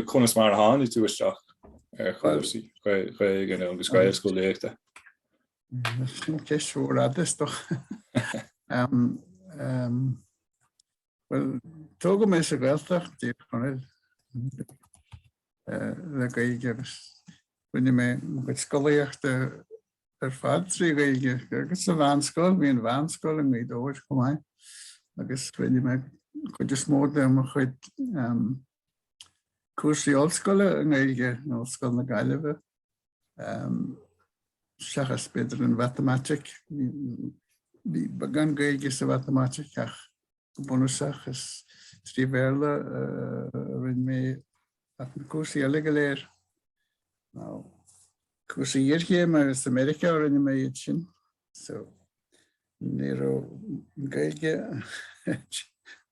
Conas mar a tháinig tú isteach ar chúrsaí Gaeilge nó agus Gaelscolaíochta? Sin ceist mhór fhada is dócha. Bhuel, tógadh mé sa Ghaeltacht, i dTír Chonaill, le Gaeilge agus rinne mé mo chuid scolaíochta ar fad trí Ghaeilge agus sa mheánscoil, bhí an mheánscoil in Gaoth Dobhair chomh maith agus rinne mé an chuid is mó de mo chuid cúrsaí ollscoile i nGaeilge in Ollscoil na Gaillimhe, seachas b'fhéidir an mhatamaitic, bhí beagán Gaeilge sa mhatamaitic ach go bunúsach is trí Bhéarla a rinne mé ach na cúrsaí eile go léir, na cúrsaí iarchéime, is i Meiriceá a rinne mé iad sin. So ní raibh Gaeilge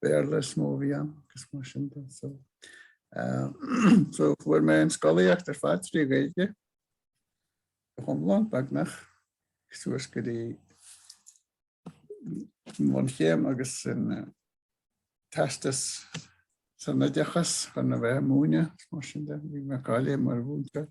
Béarla is mó a bhí ann agus mar sin de so so fuair mé an scolaíocht ar fad trí Ghaeilge go hiomlán beagnach suas go dtí bunchéim agus an teastas san oideachas chun a bheith ag múineadh mar sin de bhí mé cáilithe mar mhúinteoir.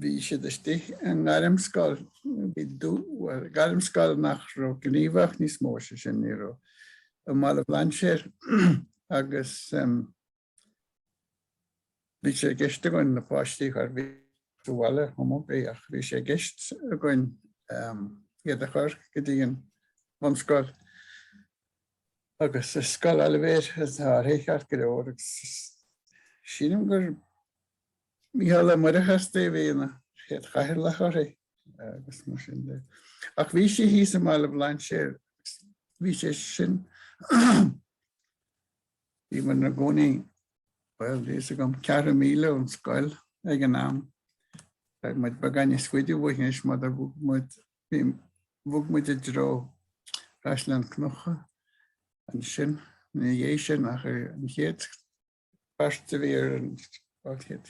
Bhí siad istigh i ngairmscoil, bhí gairmscoil nach raibh gníomhach níos mó sé sin, ní raibh, i mBaile an Bhlainséir agus bhí sé i gceist againn na páistí a chur bhí sa bhaile cibé ach bhí sé i gceist againn iad a chur go dtí an bhunscoil. agus is Scoil Oilibhéir a bhí uirthi ceart go leor agus sílim gur Micheál Ó Muircheartaigh a bhí ina chéad chathaoirleach uirthi agus mar sin de ach bhí sí thíos i mBaile Bhlainséir agus bhí sé sin bhí muid ina gcónaí bhuel níl a fhios agam ceithre mhíle ón scoil ag an am tá muid beagán níos faide uaithi anois mar do bhog muid Bhí, bhog muid i dtreo Chaisleán Cnucha ansin ina dhiaidh sin ach an chéad pháiste a bhí ar an,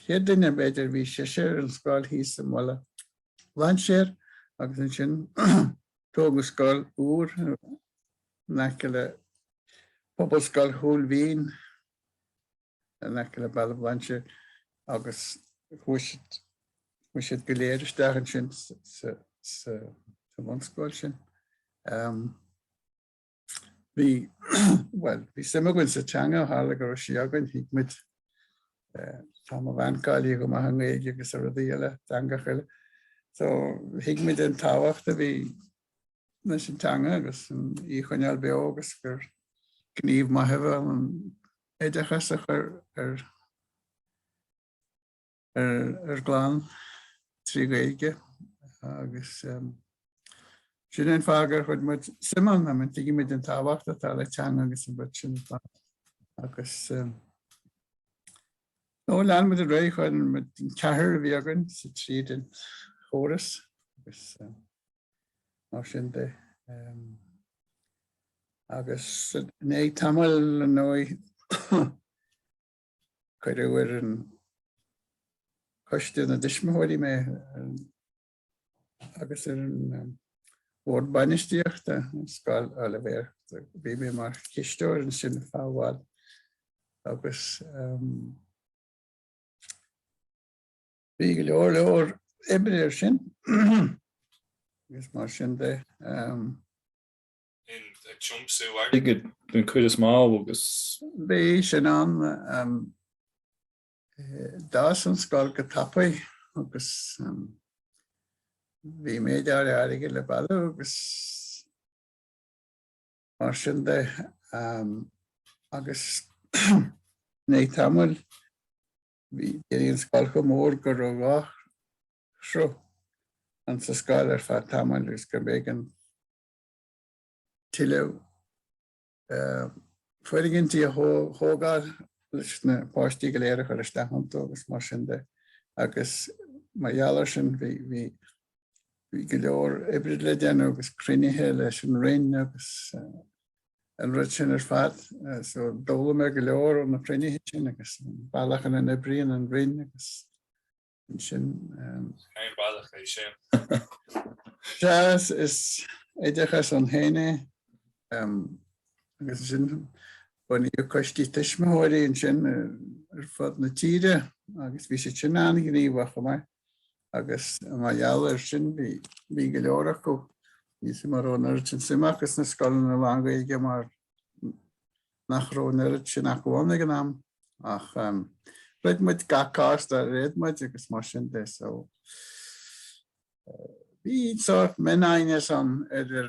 chéad duine b'fhéidir, bhí sise ar an scoil thíos i mBaile Bhlainséir agus ansin tógadh scoil úr in aice le Pobalscoil Chúil Mhín. in aice le Baile Bhlainséir agus chuaigh siad, chuaigh siad go léir isteach ansin sa, sa, sa bhunscoil sin. Um, bhí, well, bhí suim againn sa teanga, tharla go raibh sí againn, thuig muid, uh, tá mo bhean cáilithe go maith i nGaeilge agus rudaí eile, teangacha eile. So, thuig muid an tábhacht a bhí leis an teanga agus í a choinneáil beo agus gur gníomh maith é an oideachas a chur ar ár gclann trí Ghaeilge agus sin an fáth gur chuir muid suim ann mar tuigeann muid an tábhacht atá le teanga agus an rud sin agus nó lean muid ar aghaidh, chuir muid an ceathrar a bhí againn sa tríd an chóras agus mar sin de. Agus i ndiaidh tamaill ar ndóigh cuireadh ar an coiste na dtuismitheoirí mé agus ar an bhord bainistíochta Scoil Oilibhéir. Bhí mé mar chisteoir ansin fábháil agus um, Bhí go leor leor oibre air sin agus mar sin de. Ag tiomsú airgid den chuid is mó agus. Bhí sin ann. D'fhás an scoil go tapaidh agus bhí méid áirithe airgid le bailiú agus mar sin de agus i ndiaidh tamaill Bhí an scoil chomh mór go raibh dhá shruth ann sa scoil ar feadh tamaill agus go mb'éigean tuilleadh foirgintí a thógáil leis na páistí go léir a chur isteach iontu agus mar sin de. Agus mar gheall air sin bhí go leor oibre le déanamh agus cruinnithe leis an Roinn agus an rud sin ar fad. So d'fhoghlaim mé go leor ó na cruinnithe sin agus an bealach ina n-oibríonn an Roinn agus ansin. Cén bealach é sin? Is oideachas ann fhéin é agus ansin bunaíodh coistí tuismitheoirí ansin ar fud na tíre agus bhí siad sin an-ghníomhach chomh maith. agus mar gheall air sin bhí go leor acu níl a fhios agam an raibh an oiread sin suime acu sna scoileanna lán-Ghaeilge mar nach raibh an oiread sin acu ann ag an am ach throid muid gach cás dár fhéad muid agus mar sin de so bhí sórt mionaighneas ann idir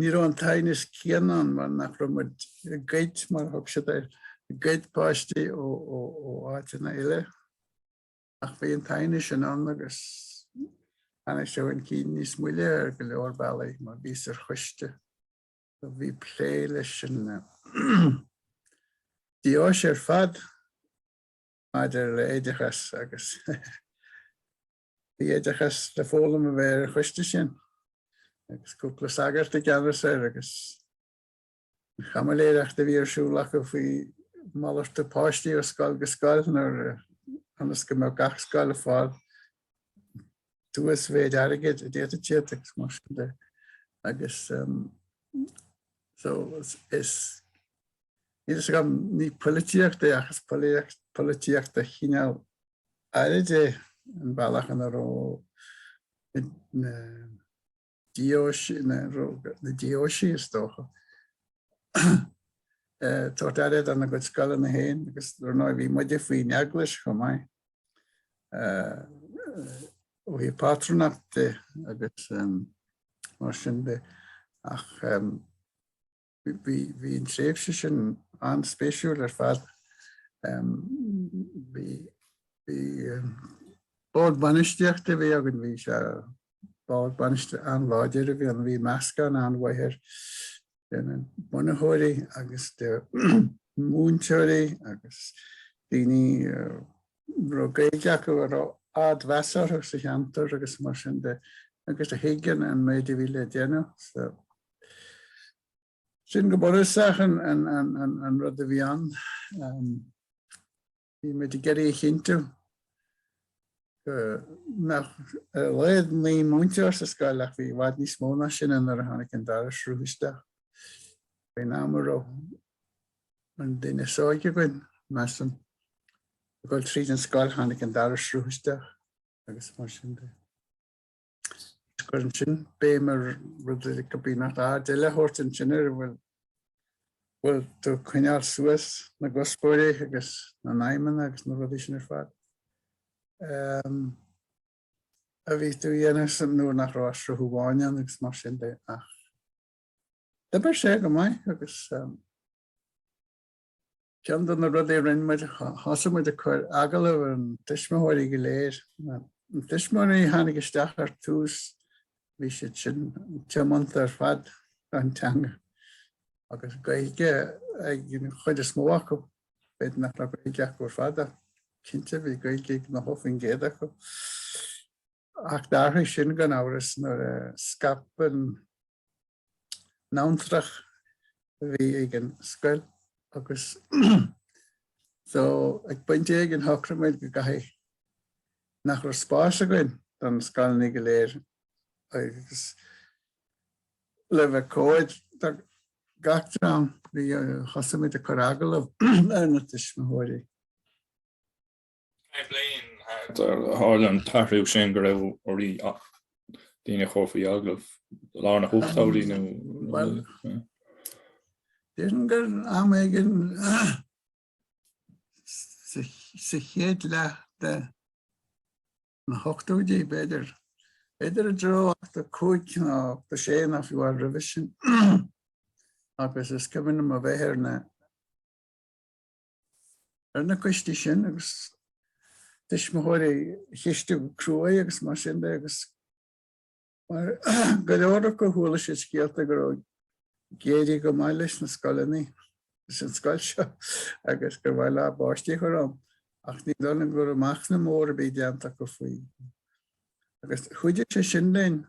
Ní raibh an t-aighneas céanna ann mar nach raibh muid ag goid, mar a thug siad air, ag goid páistí ó áiteanna eile. Ach bhí an t-aighneas sin ann agus tháinig sé chun cinn níos moille ar go leor bealaí mar bhíos ar choiste a bhí plé leis an deoise ar fad maidir le oideachas agus Bhí oideachas le foghlaim a bheith ar an choiste sin agus cúpla sagart i gceannas air agus an chaimiléireacht a bhí ar siúl acu faoi mhalartú páistí ó scoil go scoil nuair ionas go mbeadh gach scoil ag fáil an uasmhéid airgid a d'fhéadfadh siad agus mar sin de agus so is níl a fhios agam ní polaitíocht é ach is polaitíocht de chineál áirid é an bealach ina raibh na deoisí, na deoisí is dócha, tabhairt aire do na gcuid scoileanna féin agus ar ndóigh bhí muide faoin eaglais chomh maith. ó hí pátrúnacht de agus mar sin de ach Bhí an tréimhse sin an-spéisiúil ar fad. Bhí bord bainistíochta a bhí againn, bhí sé bord bainistíochta an-láidir a bhí ann, bhí meascán an-mhaith air de na bunaitheoirí agus de mhúinteoirí agus daoine raibh Gaeilge acu a raibh ardmheas orthu sa cheantar agus mar sin de agus a thuig an méid a bhí le déanamh. So, sin go bunúsach an rud a bhí ann. Bhí muid ag iarraidh a chinntiú go mbeadh ar a laghad naoi múinteoir sa scoil ach bhí i bhfad níos mó ná sin nuair a tháinig an dara sruth isteach. Bhí ón am a raibh An duine is óige againn, measaim. Ag dul tríd an scoil tháinig an dara sruth isteach agus mar sin de. Is cuireann sin béim ar rud a go bhí nach aird eile le tabhairt ansin ar a bhfuil bhfuil tú ag coinneáil suas na gcuspóirí agus na n-aidhmeanna agus na rudaí sin ar fad um, a bhí tú dhéanamh nuair nach raibh sruth amháin ann agus mar sin de ach D'oibir sé go maith agus ceann de na rudaí a rinne muid, thosaigh muid ag cur agallamh ar na tuismitheoirí go léir. Na tuismitheoirí a tháinig isteach ar tús bhí siad sin tiomanta ar fad don teanga agus Gaeilge ag an chuid is mó acu. B'fhéidir nach raibh Gaeilge acu ar fad ach cinnte bhí Gaeilge ag 90% acu. Ach d'athraigh sin gan amhras nuair a scaip an, an rath a bhí ag an scoil agus so ag pointe éigin shocraigh muid go gcaithfí nach raibh spás againn do na scoláirí go léir agus le bheith cóir do gach dream thosaigh muid ag cur agallamh ar na tuismitheoirí. Cén bhliain thart ar tharla an t-athrú sin go raibh oraibh daoine a chur faoi agallamh lár na n-ochtóidí nó. Bhuel, déarfainn gur am éigin sa chéad leath de na hochtóidí, b'fhéidir, b'fhéidir i dtreo 85 nó 86 nó fiú amháin roimhe sin, agus is cuimhin liom a bheith ar na ar na coistí sin agus tuismitheoirí a cheistiú go cruaidh agus mar sin de agus mar go leor acu chuala siad scéalta go raibh ag éirí go maith leis na scoileanna leis an scoil seo agus gur mhaith leo a bpáistí a chur ann ach ní dóigh liom go raibh machnamh mór ar bith déanta acu faoi agus chuidigh sé sin linn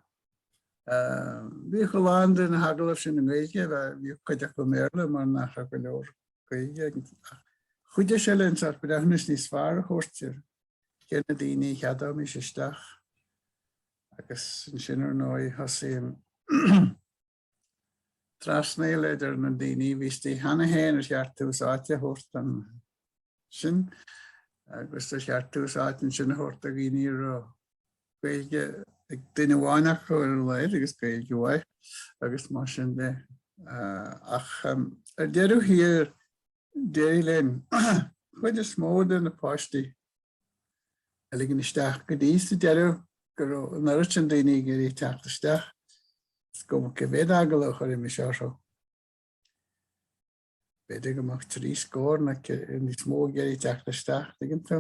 bhíodh a lán de na hagallaimh sin i nGaeilge bhíodh cuid acu i mBéarla mar nach raibh go leor Gaeilge acu an tráth. Chuidigh sé linn sórt breithiúnas níos fearr a thabhairt ar cé na daoine a cheadóimis isteach agus ansin ar ndóigh thosaigh an trasnaíl idir na daoine a bhí istigh cheana féin ar cheart tús áite a thabhairt ansin agus ar cheart tús áite ansin a thabhairt do dhaoine a raibh Gaeilge ag duine amháin acu ar a laghad agus Gaeilge mhaith agus mar sin de. Ach ar deireadh thiar d'éirigh linn chuid is mó de na páistí a ligean isteach go dtí sa deireadh go raibh an oiread sin daoine ag iarraidh teacht isteach. Is cuma cé mhéad agallamh a chuirfimis orthu. B'fhéidir go mbeadh trí scór nó níos mó ag iarraidh teacht isteach, dtuigeann tú.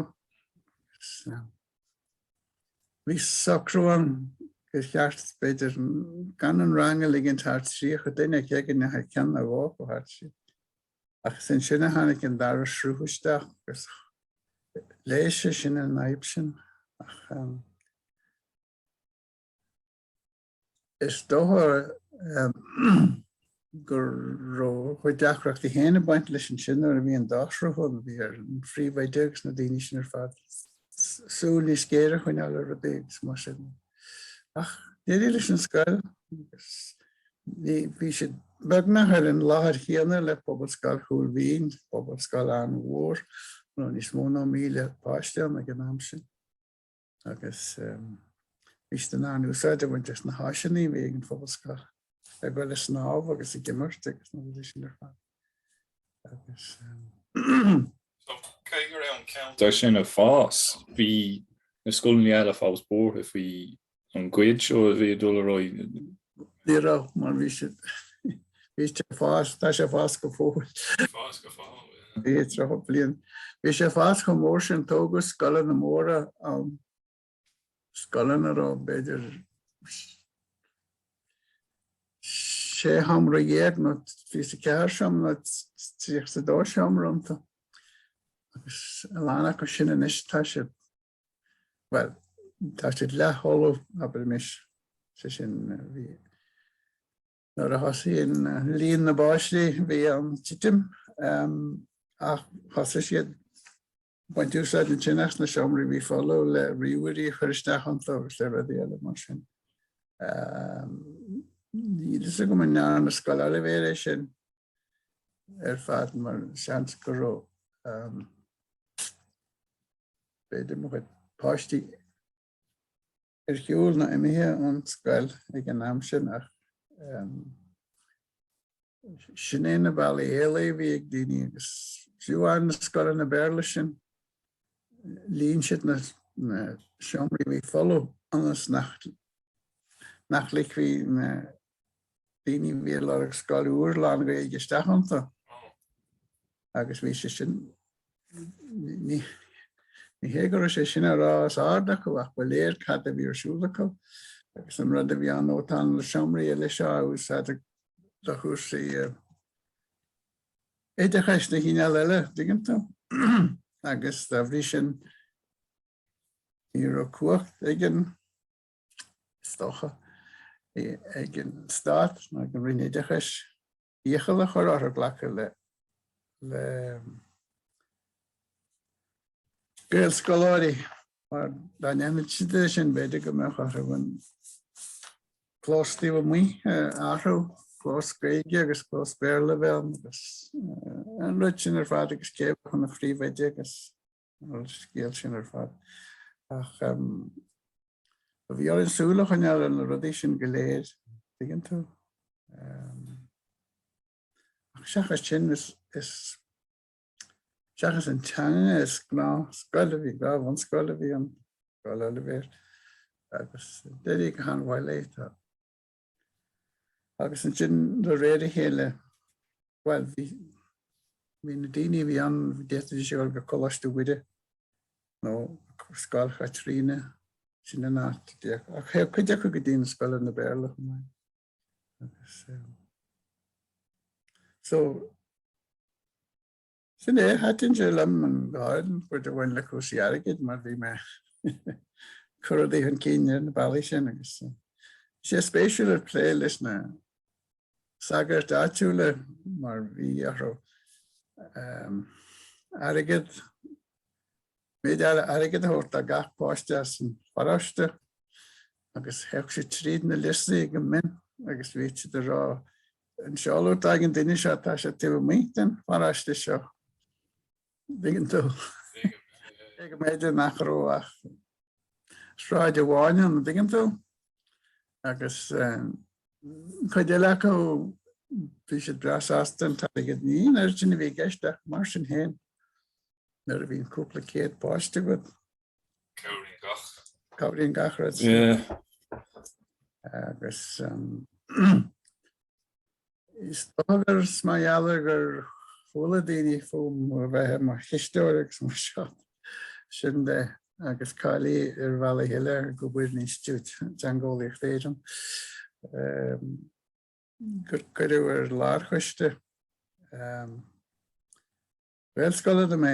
Bhí socrú ann gur cheart, b'fhéidir, gan an rang a ligint thar 30 duine éigin nó ceann nó dhó thairis. Ach is ansin a tháinig an dara sruth isteach agus leigheas sé sin an fhadhb sin. Ach. Is dócha go raibh a chuid deacrachtaí féin ag baint leis ansin nuair a bhí an dá shruth ann. Bhí ar an phríomhoide agus na daoine sin ar fad súil níos géire a choinneáil ar rudaí agus mar sin. Ach d'éirigh leis an scoil agus bhí sí beagnach ar an láthair chéanna le Pobalscoil Chúil Mhín, pobalscoil an-mhór a raibh níos mó ná 1,000 páiste ann ag an am sin. Agus bhí siad in ann úsáid a bhaint as na háiseanna a bhí ag an Phobalscoil ag dul a snámh agus ag imirt agus na rudaí sin ar fad. Agus So cé go raibh an ceantar sin ag fás, bhí na scoileanna eile fós buartha faoi an gcuid seo a bhí ag dul ar aghaidh Ní raibh, mar bhí sé bhí sé fás, tá sé ag fás go fóill. Bhí fás go fóill, yeah. Bhí sé tríocha bliain. Bhí sé fás chomh mór sin, tógadh scoileanna móra ann. Scoileanna a raibh b'fhéidir sé sheomra dhéag nó fiche is a ceathair seomra nó tríocha is a dó seomra iontu. Agus a lán acu sin anois tá sé Bhuel, tá siad leathfholamh, abraimis, sé sin, bhí, nuair a thosaíonn líon na bpáistí bhíonn titim, ach thosaigh siad baint úsáid ansin as na seomraí a bhí folamh le ríomhairí a chur isteach iontu agus le rudaí eile mar sin. Níl fhios agam an ndearna Scoil Oilibhéir é sin ar fad mar seans go raibh b'fhéidir mo chuid páistí ar shiúl nó imithe ón scoil ag an am sin ach sin é na bealaí éalaithe a bhí ag daoine agus fiú amháin na scoileanna Béarla sin líon siad na seomraí a bhí folamh ionas nach ligfí na daoine bhí lorg scoil úr lán-Ghaeilge isteach iontu agus bhí sé sin ní ní hé go raibh sé sin á rá os ard acu ach ba léir cad a bhí ar siúl acu agus an rud a bhí ann ó tá na seomraí eile seo in úsáid do chúrsaí oideachais de chineál eile dtuigeann tú agus dá bhrí sin ní raibh cumhacht ag an is dócha, ag an Stát nó ag an Roinn Oideachais iachall a chur orthu glacadh le Gaelscoil mar dá ndéanfadh siad é sin b'fhéidir go mbeadh orthu an clós taobh amuigh a athrú, clós Gaeilge agus clós Béarla a bheith ann agus an rud sin ar fad agus cé a bheadh ina phríomhoide agus An scéal sin ar fad. Ach bhí orainn súil a choinneáil ar na rudaí sin go léir, dtuigeann tú. Ach seachas sin, seachas an teanga, is gnáthscoil a bhí, gnáth-bhunscoil a bhí ann, Scoil Oilibhéir, agus d'éirigh go han-mhaith léi. Agus ansin de réir a chéile, bhuel, bhí, bhí na daoine a bhí ann, d'fhéadfadh sé a dhul go Coláiste Mhuire nó Scoil Chaitríona, sin an áit, ach théadh cuid acu go dtí na scoileanna Béarla chomh maith. Agus, so, Sin é, thaitin sé liom an ghrád, an chuid a bhain le cúrsaí airgid mar bhí mé cuardaigh chun cinn ar na bealaí sin agus bhí sé spéisiúil ag plé leis na sagairt áitiúla mar bhí orthu airgead, méid áirithe airgid a thabhairt do gach páiste as an pharóiste agus théadh siad tríd na liostaí go mion agus bhíodh siad ag rá An seoladh atá ag an duine seo, tá sé taobh amuigh den pharóiste seo. An dtuigeann tú, agus go mb'fhéidir nach raibh ach sráid amháin ann, an dtuigeann tú. Agus cuid eile acu, bhí siad breá sásta an t-airgead. Ní aon fhortún a bhí i gceist ach mar sin féin, nuair a bhíonn cúpla céad páiste agat, Cabhraíonn gach. Cabhraíonn gach rud. Agus is dóigh gur, is mar gheall gur chuala daoine fúm a bheith i mo chisteoir agus mar seo sin de agus cáilithe ar bhealach eile, ag obair in Institiúid Teangeolaíochta Éireann gur cuireadh ar lárchoiste Gaelscoileanna mé.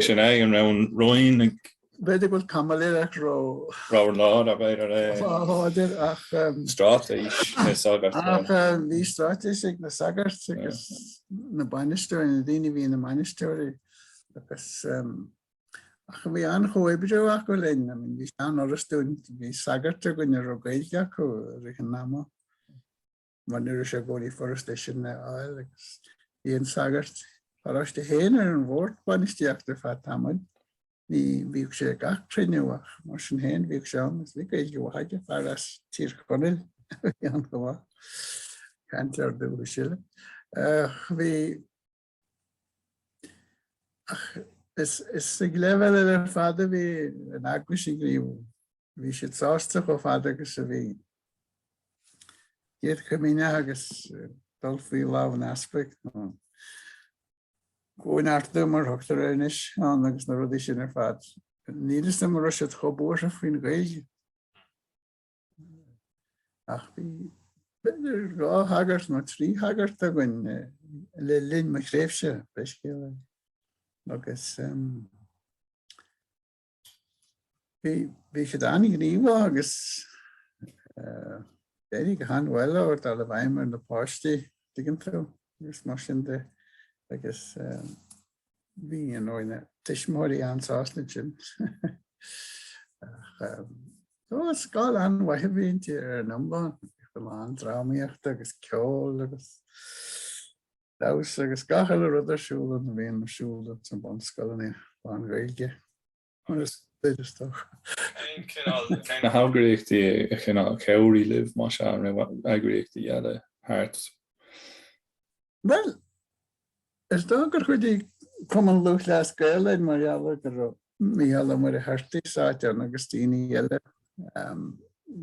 Sin é an raibh roinnt, b'fhéidir go bhfuil caimiléireacht róláidir, ach straitéis na sagart. Ach bhí straitéis ag na sagairt agus na bainisteoirí, na daoine a bhí ina mbainisteoirí agus ach bhí an-chomhoibriú acu linn. I mean bhí sé an-fhurasta dúinn, bhí sagairt againn a raibh Gaeilge acu i rith an ama. Mar ní raibh sé i gcónaí furasta sin a fháil agus bhí an sagart paróiste féin ar an bhord bainistíochta feadh tamaill, ní bhíodh sé ag gach cruinniú ach mar sin féin bhíodh sé ann agus bhí Gaeilge mhaith aige, fear as Tír Chonaill a bhí ann chomh maith, cainteoir dúchais eile. Bhí. Ach is ag leibhéal eile ar fad a bhí an eaglais ag gníomhú. Bhí siad sásta chomh fada agus a bhí an Chéad Chomaoineach agus dul faoi lámh an easpaig, nó cóineartú mar a thugtar air anois ann, agus na rudaí sin ar fad. Níl fhios agam an raibh siad chomh buartha faoin Ghaeilge. Ach bhí b'fhéidir dhá shagart nó trí shagart againn le linn mo thréimhse féin i Scoil Oilibhéir agus bhí siad an-ghníomhach agus d'éirigh go han-mhaith leo dul i bhfeidhm ar na páistí, dtuigeann tú, agus mar sin de agus bhí you know, na tuismitheoirí an-sásta leis sin. Ach um, ó, scoil an-mhaith a bhí inti ar an iomlán. Bhí a lán drámaíochta agus ceol agus damhsa agus gach uile rud ar siúl a bhíonn ar siúl sna bunscoileanna lán-Ghaeilge. Mar is féidir dóibh. Cén cineál, cén na heagraíochtaí a chineál chabhraigh libh, más ea, an raibh eagraíochtaí eile thart? Bhuel, is dóigh gur chuidigh Cumann Lúthchleas Gael linn mar gheall ar go raibh Mícheál Ó Muircheartaigh sáite ann agus daoine eile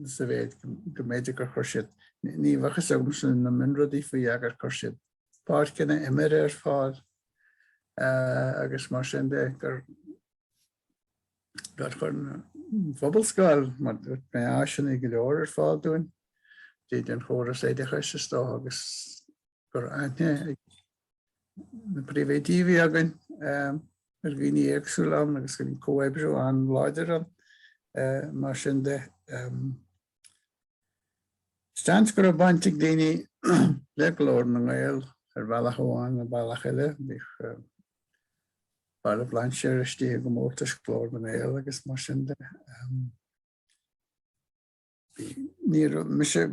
sa mhéid go mb'fhéidir gur chuir siad, ní bheadh fhios agamsa na mionrudaí faoi ach gur chuir siad páirceanna imeartha ar fáil agus mar sin de gur gur chuir an Phobalscoil, mar dúirt mé, áiseanna go leor ar fáil dúinn, daoine den chóras oideachais is dócha agus go raibh aithne ag na príomhoidí a bhí againn ar dhaoine éagsúla ann agus bhí comhoibriú an-láidir ann. Mar sin de, Seans go raibh baint ag daoine le Glór na nGael ar bhealach amháin nó bealach eile. Bhíodh Baile Bhlainséir istigh i gcomórtais Ghlór na nGael agus mar sin de. Ní raibh mise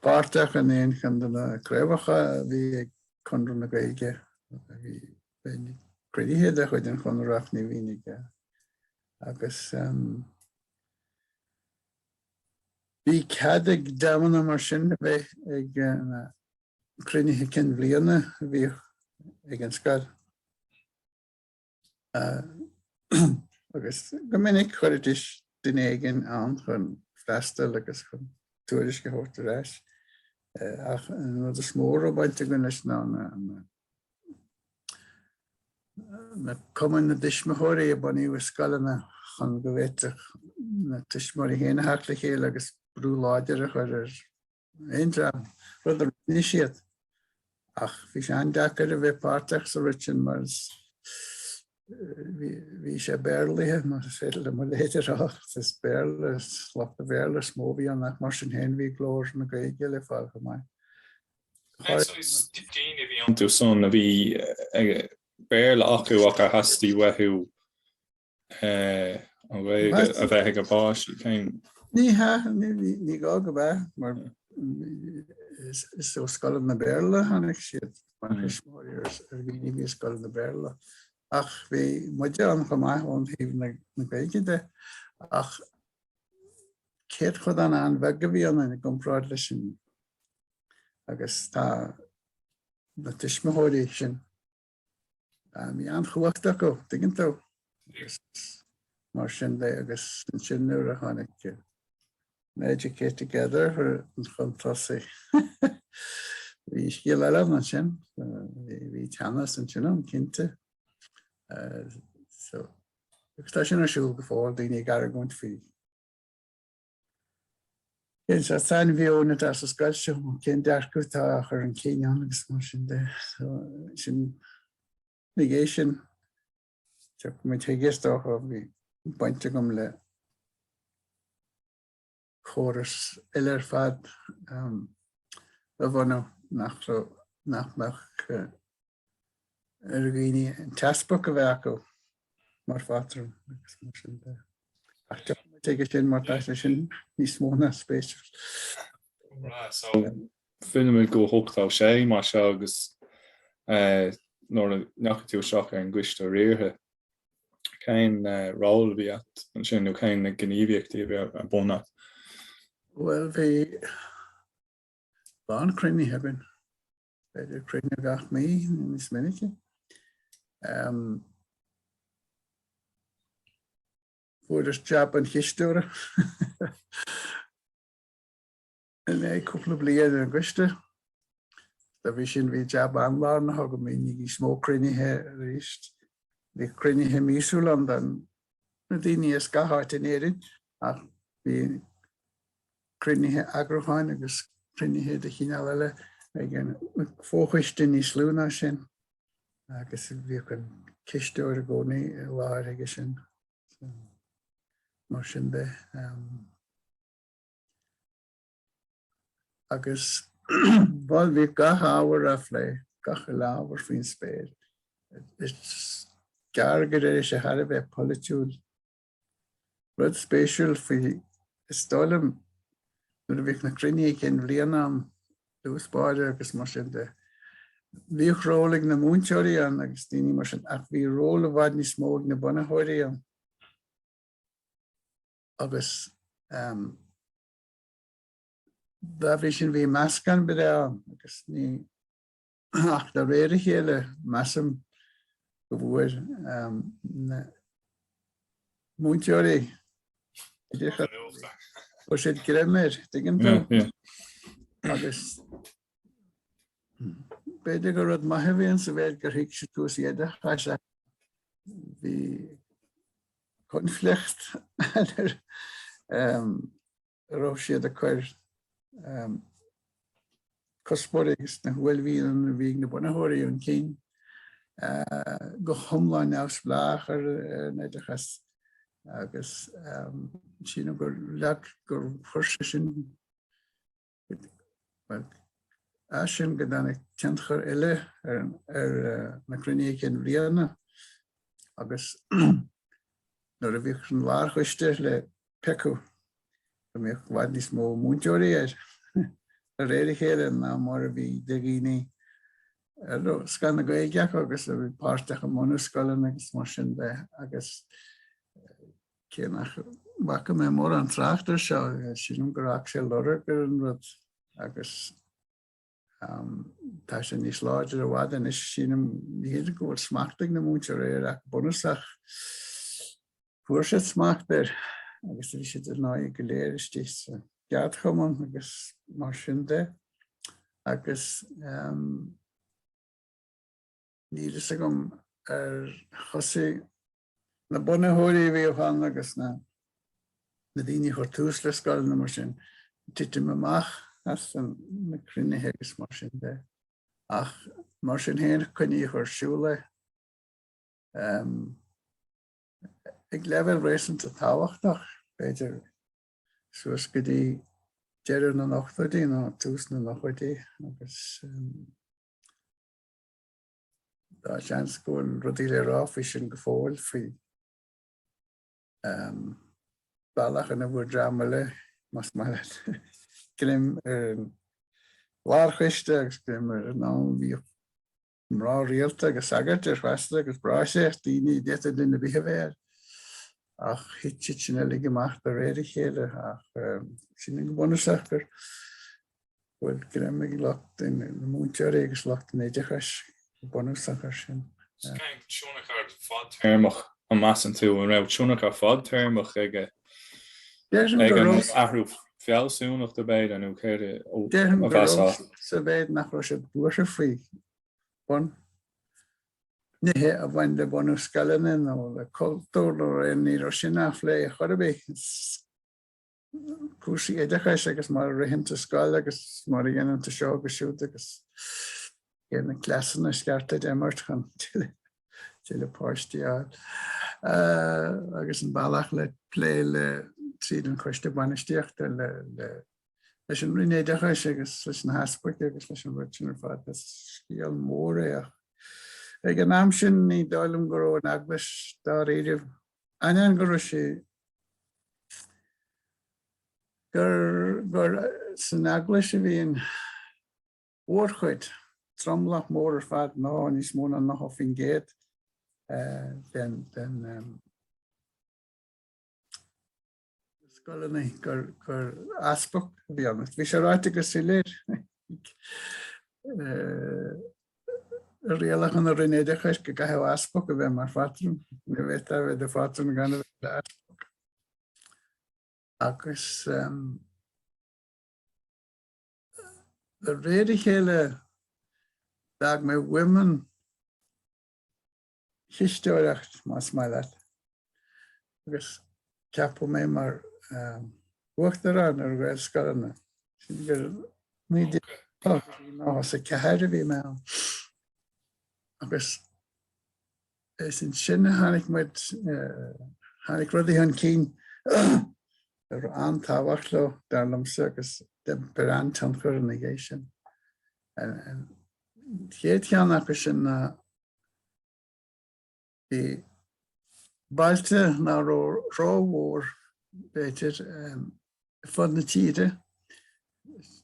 páirteach in aon cheann de na craobhacha a bhí ag Conradh na Gaeilge. Bhíodh cruinnithe de chuid an Chonartha ach ní minic. Agus Bhíodh cead ag dreamanna mar sin a bheith ag na cruinnithe cinn bhliana a bhíodh ag an scoil. Agus go minic chuiridís duine éigin ann chun freastal agus chun tuairisc a thabhairt ar ais. Ach an rud is mó a raibh baint againn leis ná na Na cumainn na dtuismitheoirí a bunaíodh i scoileanna chun go bhféadfadh na tuismitheoirí féin a theacht le chéile agus brú láidir a chur ar aon dream, rud a rinne siad. Ach bhí sé an-deacair a bheith páirteach sa rud sin mar bhí sé Béarlaithe, más féidir le mo leithéid a rá, is Béarla, lucht an Bhéarla is mó a bhí ann ach mar sin féin bhí glór na Gaeilge le fáil chomh maith. Daoine a bhí iontu san a bhí Béarla acu ach a theastaigh uathu an Ghaeilge a bheith ag a bpáistí. Ní hea, ní gá go bheith mar is ó scoileanna lán-Bhéarla a tháinig siad, mar thuismitheoirí ar dhaoine a bhí i scoileanna lán-Bhéarla. Ach bhí muide ann chomh maith ón thaobh na Gaeilge de. Ach céatadán an-bheag a bhí ann i gcomparáid leis an agus tá na tuismitheoirí sin bhí an-chumhacht acu, tuigeann tú, agus mar sin de agus ansin nuair a tháinig Educate Together chun tosaigh. Bhí scéal eile ansin, bhí teannas ansin ann cinnte. Agus tá sin ar siúl go fóill daoine ag argóint faoi Cén saghas sainmheon atá sa scoil seo? Cén dearcadh atá á chur chun cinn ann agus mar sin de? So, sin an ghné sin. Tiocfaidh muid chuige is dócha. Bhí baint agam le córas eile ar fad a bhunú nach raibh nach mbeadh ar dhaoine an t-easpag a bheith acu mar phátrún agus mar sin de. Ach tiocfaidh muid chuige sin mar tá sé sin níos spéisiúla. So fillimid go hochtá sé mar seo agus eh, nuair a ndeachaigh tú isteach ar an gcoiste riartha. Cén eh, ról bhí agat ansin nó cén na gníomhaíochtaí a bhí ar bun? Well, bhí a lán cruinnithe againn. B'fhéidir cruinnithe gach mí níos minice. Fuair mé jab an chisteora. Bhí mé cúpla bliain ar an gcoiste. Dá bhrí sin bhí jab an-lár na thugam mí níos mó cruinnithe arís. Bhí cruinnithe míosúil ann don na daoine as gach áit in Éirinn ach bhí cruinnithe eagrúcháin agus cruinnithe de chineál eile ag an bhfochoiste níos lú ná sin agus bhíodh an cisteoir i gcónaí i láthair aige sin. Mar sin de. Um, agus bhuel bhí gach ábhar á phlé, gach ábhar faoin spéir. Is gearr go raibh sé thar a bheith polaitiúil Rud spéisiúil faoi Is dóigh liom nuair a bhíodh na cruinnithe cinn bhliana ann, díospóireacht agus mar sin de, bhíodh ról ag na múinteoirí ann agus daoine mar sin ach bhí ról i bhfad níos mó ag na bunaitheoirí ann agus dá bhrí sin bhí meascán breá ann agus ní Ach de réir a chéile, measaim go bhfuair na múinteoirí oideachas, fuair siad greim air, dtuigeann tú? Agus b'fhéidir go rud maith a bhí ann sa mhéid gur thuig siad cúrsaí oideachais ach bhí conflict ar raibh siad ag cur cuspóirí agus na huaillmhianta a bhí ag na bunaitheoirí chun cinn go hiomlán neamhspleách ar an oideachas agus sílim gur leag gur chuir sé sin as sin go dtáinig tionchar eile ar na cruinnithe cinn bhliana agus Nuair a bhíodh an lárchoiste le piocadh go mbeadh i bhfad níos mó múinteoirí air de réir a chéile ná mar a bhí de dhaoine a raibh scoth na Gaeilge acu agus a bhí páirteach i mbunú scoileanna agus mar sin de agus cé nach bhfaca mé mórán trácht air seo, sílim gur fhág sé lorg ar an rud agus. Tá sé níos láidre i bhfad anois, sílim. Ní hé go bhfuil smacht ag na múinteoirí air ach bunúsach. Fuair siad smacht air agus bhí siad ar ndóigh go léir istigh sa gceardchumann agus mar sin de. Agus níl fhios agam ar thosaigh Na bunaitheoirí a bhíodh ann agus na daoine a chuir tús le scoileanna mar sin titim amach as na cruinnithe agus mar sin de. Ach mar sin féin coinníodh ar siúl iad ag leibhéal réasúnta tábhachtach, b'fhéidir suas go dtí deireadh na n-ochtóidí nó tús na nóchaidí agus Tá seans go bhfuil rudaí le rá faoi sin go fóill faoi bhealach ina bhfuair dream eile más maith leat greim ar an lárchoiste agus greim ar an am a bhíodh mná rialta agus sagairt ar feasta agus bráithre daoine d'fhéadfadh duine ar bith a bheith air ach thit siad sin uilig amach de réir a chéile ach sin go bunúsach gur bhfuil greim ag lucht na múinteoirí agus lucht an oideachais go bunúsach air sin. Tionchar fadtéarmach, an measann tú, An raibh tionchar fadtéarmach ag an athrú fealsúnachta b'fhéidir nó céard a mheasfá? Déarfainn go raibh, sa mhéid nach raibh siad buartha faoi bhun-nithe a bhain le bunú scoileanna nó le cultúr nó ar aon ní, ní raibh sin á phlé ar chor ar bith. cúrsaí oideachais agus mar a ritheann tú scoil agus mar a dhéanann tú seo agus siúd agus cé na cleasanna is ceart duit imirt chun tuilleadh páistí a fháil. Uh, agus an bealach le plé le tríd an coiste bainistíochta le, le leis an Roinn Oideachais agus leis na heaspaig agus leis an rud sin ar fad is scéal mór é ach ag an am sin ní dóigh liom go raibh an eaglais dáiríre ainneoin go raibh sé gur san eaglais a bhí an mhórchuid, an tromlach mór ar fad, nó níos mó ná 90% den. scoileanna gur gur easpag a bhí i gceannas. Bhí sé ráite go soiléir i rialacha na Roinne Oideachais go gcaithfeadh easpag a bheith mar phátrún ní fhéadfá a bheith i do phátrún gan a bheith i d'easpag. Agus um, de réir a chéile d'fhág mé mo mhion chisteoireacht más maith leat agus ceapadh mé mar uachtarán ar Ghaelscoileanna. Sílim gur 1984 a bhí mé ann agus is ansin a tháinig muid, tháinig rudaí chun cinn a raibh an-tábhacht leo, dar liomsa, agus d'imir an-tionchar ina dhiaidh sin. An chéad cheann acu sin ná Bhí bailte nach raibh rómhór b'fhéidir ar fud na tíre,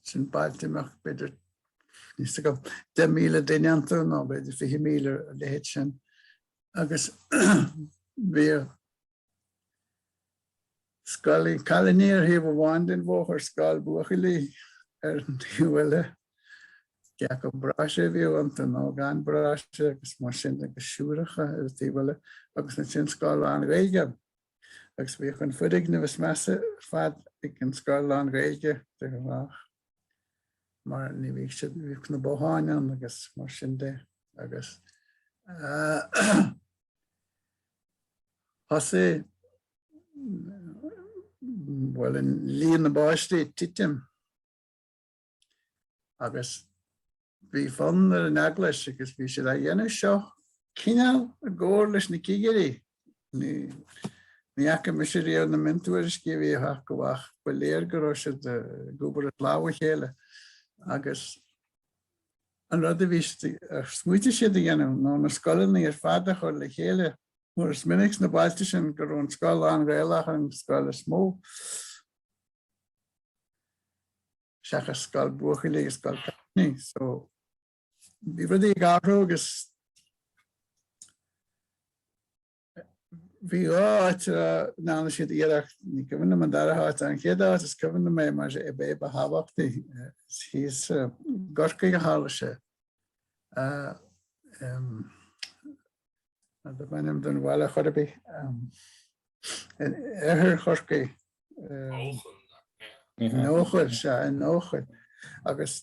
sin bailte a mbeadh b'fhéidir níos go 10,000 duine iontu nó b'fhéidir 20,000 ar a leithéid sin agus bhíodh Scoil cailiní ar thaobh amháin den bhóthar, scoil buachaillí ar an taobh eile. Cé acu bráithre a bhíodh iontu nó gan bráithre agus mar sin agus siúracha ar an taobh eile agus ansin scoil lán-Ghaeilge. Agus bhíodh an foirgneamh is measa ar fad ag an scoil lán-Ghaeilge de ghnáth mar ní bhíodh siad ní bhíodh na botháin ann agus mar sin de agus thosaigh, bhuel, líon na bpáistí ag titim agus bhí fonn ar an eaglais agus bhí siad á dhéanamh seo cineál i gcomhar leis na cigirí, ní fhaca mise riamh na miontuairiscí a bhíodh acu ach ba léir go raibh siad ag obair as lámha a chéile agus An rud a bhí smaoitigh siad a dhéanamh ná na scoileanna ar fad a chur le chéile mar is minic sna bailte sin go raibh an scoil lán-Ghaelach ar an scoil is mó, seachas scoil buachaillí agus scoil cailíní. So bhí rudaí ag athrú agus Bhí dhá áit a ndearna siad iarracht, ní cuimhin liom an dara háit, ach an chéad áit is cuimhin liom é mar is é ba thábhachtaí, thíos i gCorcaigh a tharla sé. Dá mbeadh ainm an bhaile, in oirthear Chorcaí. Eochaill. In Eochaill, sea, in Eochaill. Agus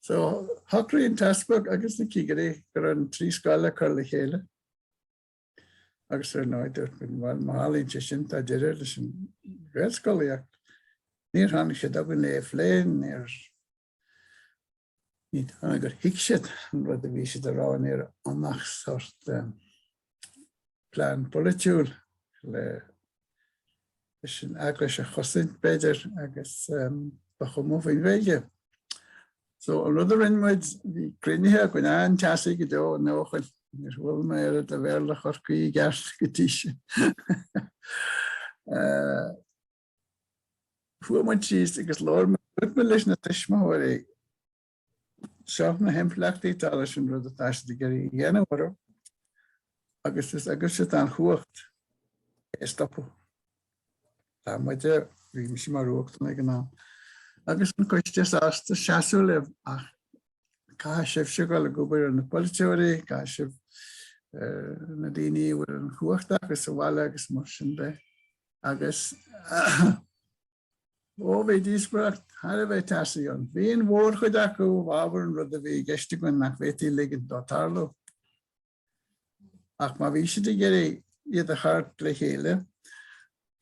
So, shocraigh an t-easpag agus na cigirí go raibh an trí scoil le cur le chéile. Agus ar ndóigh dúirt muid, bhuel, má tharlaíonn sé sin, tá deireadh leis an Ghaelscolaíocht. Níor tháinig siad againn lena phlé, níor, ní dóigh liom gur thuig siad an rud a bhí siad a rá, ní raibh ann ach sórt plean polaitiúil le leis an eaglais a chosaint, b'fhéidir, agus ba chuma leo faoin Ghaeilge. So an rud a rinne muid, bhí cruinnithe againn an-teasaí go deo in Eochaill, níor bhuail mé riamh le Béarla Chorcaí i gceart go dtí sin. Chuaigh muid síos agus labhair muid leis na tuismitheoirí. Seo na himpleachtaí atá leis an rud atá siad ag iarraidh a dhéanamh oraibh agus is agaibhse atá an chumhacht é a stopadh. Tá muide, bhí mise mar uachtarán ag an am, agus an coiste sásta seasamh libh ach caithfidh sibhse dhul ag obair ar na polaiteoirí, caithfidh sibh ar na daoine a bhfuil an chumhacht acu sa bhaile agus mar sin de agus. Ó bhí díospóireacht thar a bheith teasaí ann. Bhí an mhór chuid acu i bhfabhar an rud a bhí i gceist againn nach bhféadfaí ligint dó tarlú. Ach má bhí siad ag iarraidh iad a chur le chéile,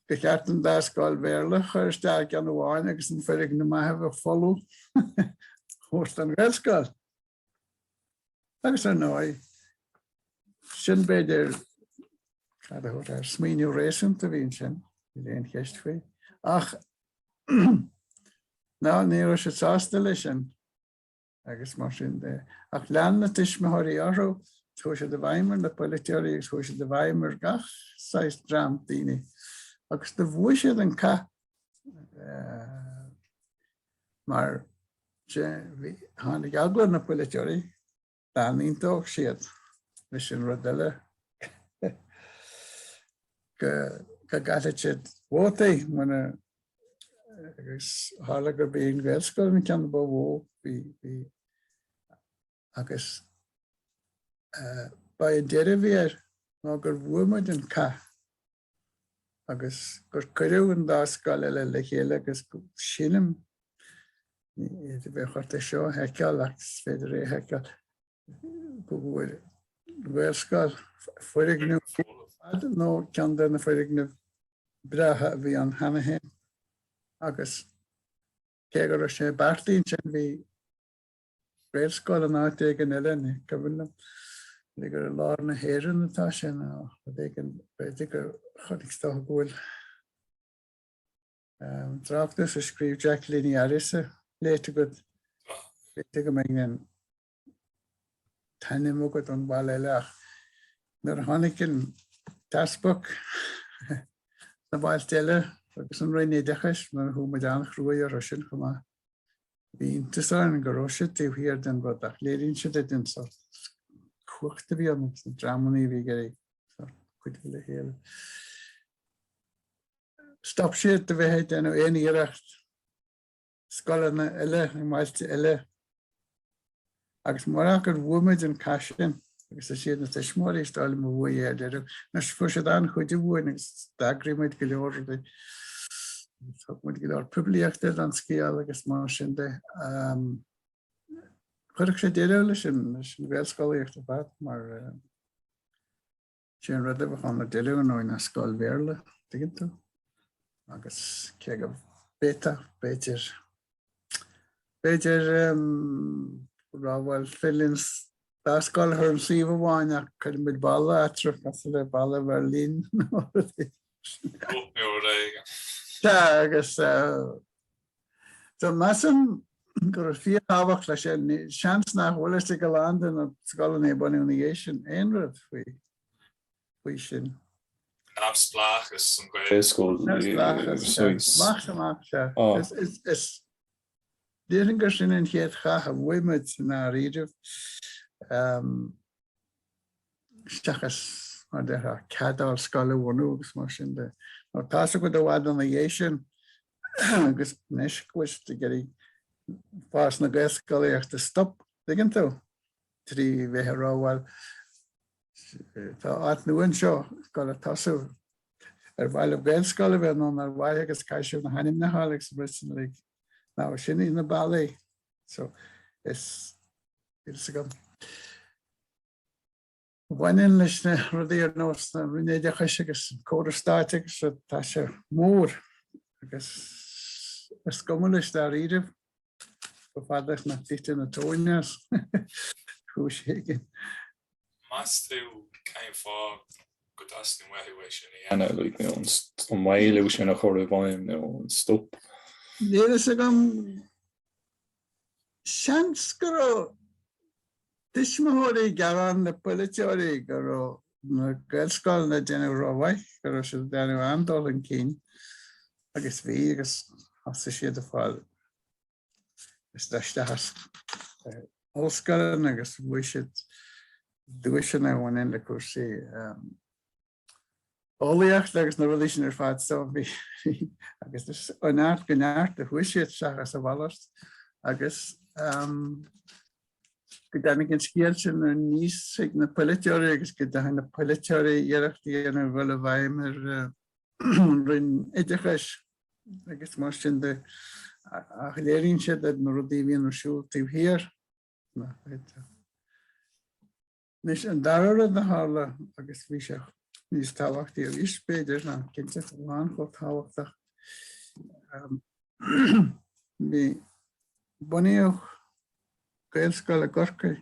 go mba cheart an dá scoil Bhéarla a chur isteach i gceann amháin agus an foirgneamh maith a bheadh folamh a thabhairt don Ghaelscoil. Agus ar ndóigh, sin b'fhéidir cad a thabhairt air, smaoineamh réasúnta a bhí ansin, níl aon cheist faoi. Ach ní raibh siad sásta leis sin agus mar sin de. Ach lean na tuismitheoirí orthu, chuaigh siad i bhfeidhm ar na polaiteoirí agus chuaigh siad i bhfeidhm ar gach saghas dream daoine agus do bhuaigh siad an cath mar Tháinig eagla ar na polaiteoirí, dá n-aontóidh siad leis an rud eile, go gcaillfeadh siad vótaí mura, agus tharla gurb í an Ghaelscoil an ceann ba mhó, bhí, agus ba é an deireadh a bhí air ná gur bhuaigh muid an cath agus gur cuireadh an dá scoil eile le chéile agus sílim, bheadh ort é seo a sheiceáil ach is féidir é a sheiceáil, go bhfuair an Ghaelscoil foirgneamh ar fad nó ceann de na foirgnimh breátha a bhí ann cheana féin agus cé go raibh sé beartaithe ansin bhí Gaelscoil in áit éigin eile, ní cuimhin liom. B'fhéidir gur i lár na hÉireann atá sé nó rud éigin. B'fhéidir gur chonaic tú nó go bhfuil tráchtas a scríobh Jack Liniaris léite agat. B'fhéidir go mbeidh an t-ainm agat ar an mbaile eile ach nuair a tháinig an tEaspag sna bailte eile agus an Roinn Oideachais, nuair a chuaigh muid an-chruaidh orthu sin chomh maith, Bhí iontas orainn go raibh siad taobh thiar den rud ach léiríonn sé duit an sórt cumhacht a bhí ann agus na dreamanna a bhí ag cuidiú le chéile. Stop siad de bheith ag déanamh aon iarracht scoileanna eile i mbailte eile Agus mura gur bhuaigh muid an cath sin, agus is iad na tuismitheoirí is dóigh liom a bhuaigh é, dáiríre, anois fuair siad an-chuidiú uainn agus d'eagraigh muid go leor rudaí. Thug muid go leor poiblíochta don scéal agus mar sin de. Chuirfeadh sé deireadh leis an Ghaelscolaíocht ar fad mar. Sé an rud a bheadh ann i ndeireadh ar ndóigh ná scoil Bhéarla, tuigeann tú, agus cé go bhféadfadh, b'fhéidir, b'fhéidir go raibh, bhuel, féidir linn dá scoil a chur ar an suíomh amháin ach cuirfidh muid balla eatarthu, cosúil le balla Bheirlín nó rud éigin. Rud mór é. Tá, agus So measaim go raibh fíor-thábhacht leis sin, seans nach bhfuil fhios ag a lán de na scoileanna a baineadh ina dhiaidh sin aon rud faoi sin. Neamhspleáchas an Gaelscoil a shuíos. Maith amach seo. Is déarfainn gur sin an chéad chath a bhuaigh muid i ndáiríribh. seachas mar a déarfá cead a fháil scoil a bhunú agus mar sin de. Ná tá sa go de bhfad ina dhiaidh sin agus anois go bhfuil siad ag iarraidh fás na Gaelscolaíochta a stopadh dtuigeann tú trí bheith ag rá bhuel tá áit nua anseo ag goil ag tosú ar mhaith libh Gaelscoil a bheith nó nár mhaith agus caithfidh sibh na hainmneacha a fháil agus an bhfuil siad uilig ann sin iad na bealaí so is Bhaineann leis na rudaí ar nós na Roinne Oideachais agus an córas stáit agus so tá sé mór agus is cuma leis dáiríre chomh fada is nach dtitfidh an tóin as ar chúis éigin. Meas tú cén fáth go dteastaíonn uathu é sin a dhéanamh, like, you know, an maolú sin a chur i bhfeidhm nó an stop? Níl fhios agam seans go raibh tuismitheoirí ag gearán le polaiteoirí go raibh na gaelscoileanna ag déanamh ró-mhaith, go raibh siad ag déanamh an-dul chun cinn agus bhí agus thosaigh siad ag fáil isteach sna hollscoileanna agus bhuaigh siad duaiseanna a bhain le cúrsaí. eolaíocht agus na rudaí sin ar fad so bhí agus is ó neart go neart a chuaigh siad seachas a mhalairt agus go dtáinig an scéal sin aníos ag na polaiteoirí agus go dtug na polaiteoirí iarracht ar a dhul i bhfeidhm ar an Roinn Oideachais agus mar sin de ach léiríonn sé na rudaí a bhíonn ar siúl taobh thiar. Anois an dara rud a tharla agus bhí sé níos tábhachtaí arís b'fhéidir nó cinnte chuile bhlas chomh tábhachtach, bhí, bunaíodh Gaelscoil i gCorcaigh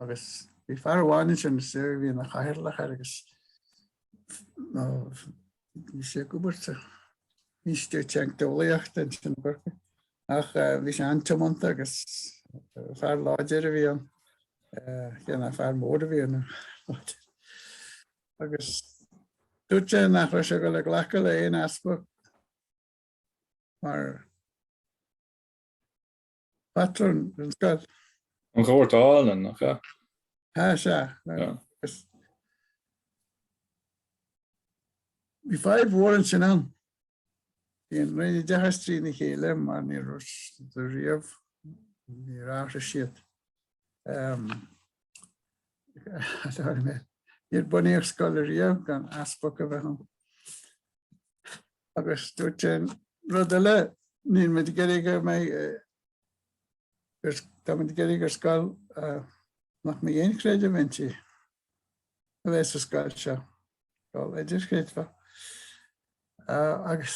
agus bhí fear amháin ansin is é a bhí ina chathaoirleach air agus Bhí sé ag obair in Institiúid Teicneolaíochta ansin i gCorcaigh ach bhí sé an-tiomanta agus fear láidir a bhí ann, fear mór a bhí ann láidir. Agus dúirt sé nach raibh sé go le glacadh le haon easpag mar Pátrún an scoil. An Ghoirt Álainn, nach ea? Sea. Bhí fadhb mhór ansin ann. Bhí an Roinn Oideachais trína chéile mar ní raibh siad riamh, níor athraigh siad. Níor bunaíodh scoil ariamh gan easpag a bheith ann. Agus dúirt sé rud eile, níl muid ag iarraidh go mbeidh, tá muid ag iarraidh gur scoil nach mbeidh aon chreideamh inti a bheidh sa scoil seo, scoil idirchreidmheach. Agus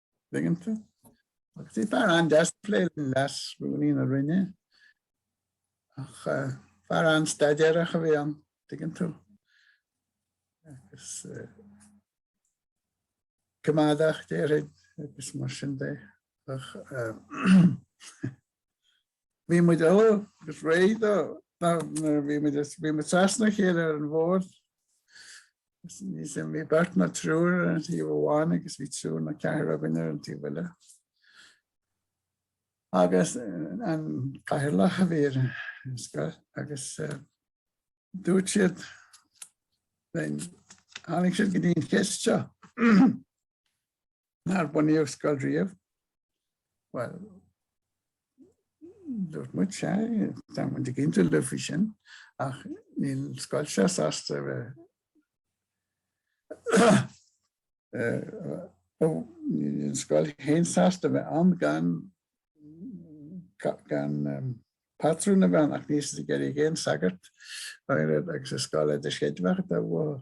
tuigeann tú. Agus bhí fear an-deas ag plé le leas-rúnaí na Roinne ach fear an-staidéarach a bhí ann, tuigeann tú, agus coimeádach, déarfainn, agus mar sin de. Bhí muid uilig réidh dó nuair a bhí muid as. Bhí muid trasna a chéile ar an bhord. Bhí beirt ná triúr ar an taobh amháin agus bhí triúr ná ceathrar againn ar an taobh eile. Agus an Cathaoirleach a bhí ar an scoil agus dúirt siad, tháinig siad go dtí an cheist seo. Nár bunaíodh scoil riamh? Bhuel, dúirt muid sea, tá muid ag aontú libh faoi sin, ach níl scoil sé sásta a bheith níl scoil féin sásta a bheith ann gan gan pátrún a bheith ann ach níl siad ag iarraidh aon sagart agus is scoil idirchreidmheach atá uathu.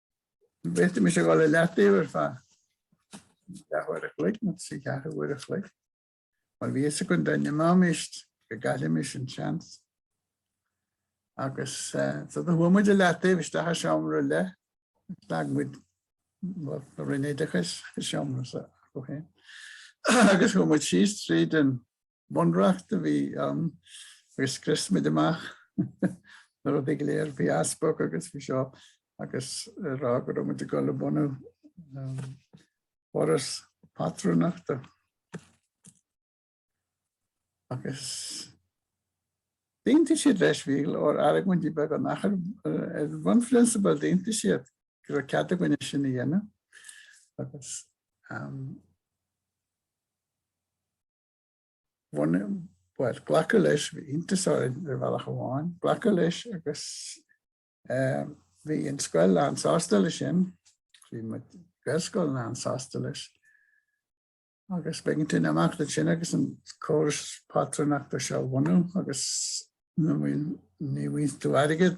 Bhféadfaimis a dhul i leataobh ar feadh leathuair a chloig nó trí cheathrú uair a chloig. Mar bhí fhios againn dá n-imeáimis go gcaillfimis an seans. Agus so do chuaigh muid i leataobh isteach i seomra eile, agus d'fhág muid an Roinn Oideachais i seomra s'acu féin. Agus chuaigh muid síos tríd an Bunreacht a bhí ann agus scrios muid amach na rudaí go léir faoi easpag agus faoi seo agus ag rá go raibh muid ag dul i mbun foras pátrúnachta. Agus d'aontaigh siad leis, bhí go leor argóintí beaga ach ar bhunphrionsabal d'aontaigh siad go raibh cead againn é sin a dhéanamh. Agus bhuel, glacadh leis, bhí iontas orainn ar bhealach amháin, glacadh leis agus bhí an scoil lánsásta leis sin, bhí muid, Gaelscoil, lánsásta leis agus b'éigean tú imeacht ansin agus an córas pátrúnachta seo a bhunú agus ní bhfaigheadh tú airgead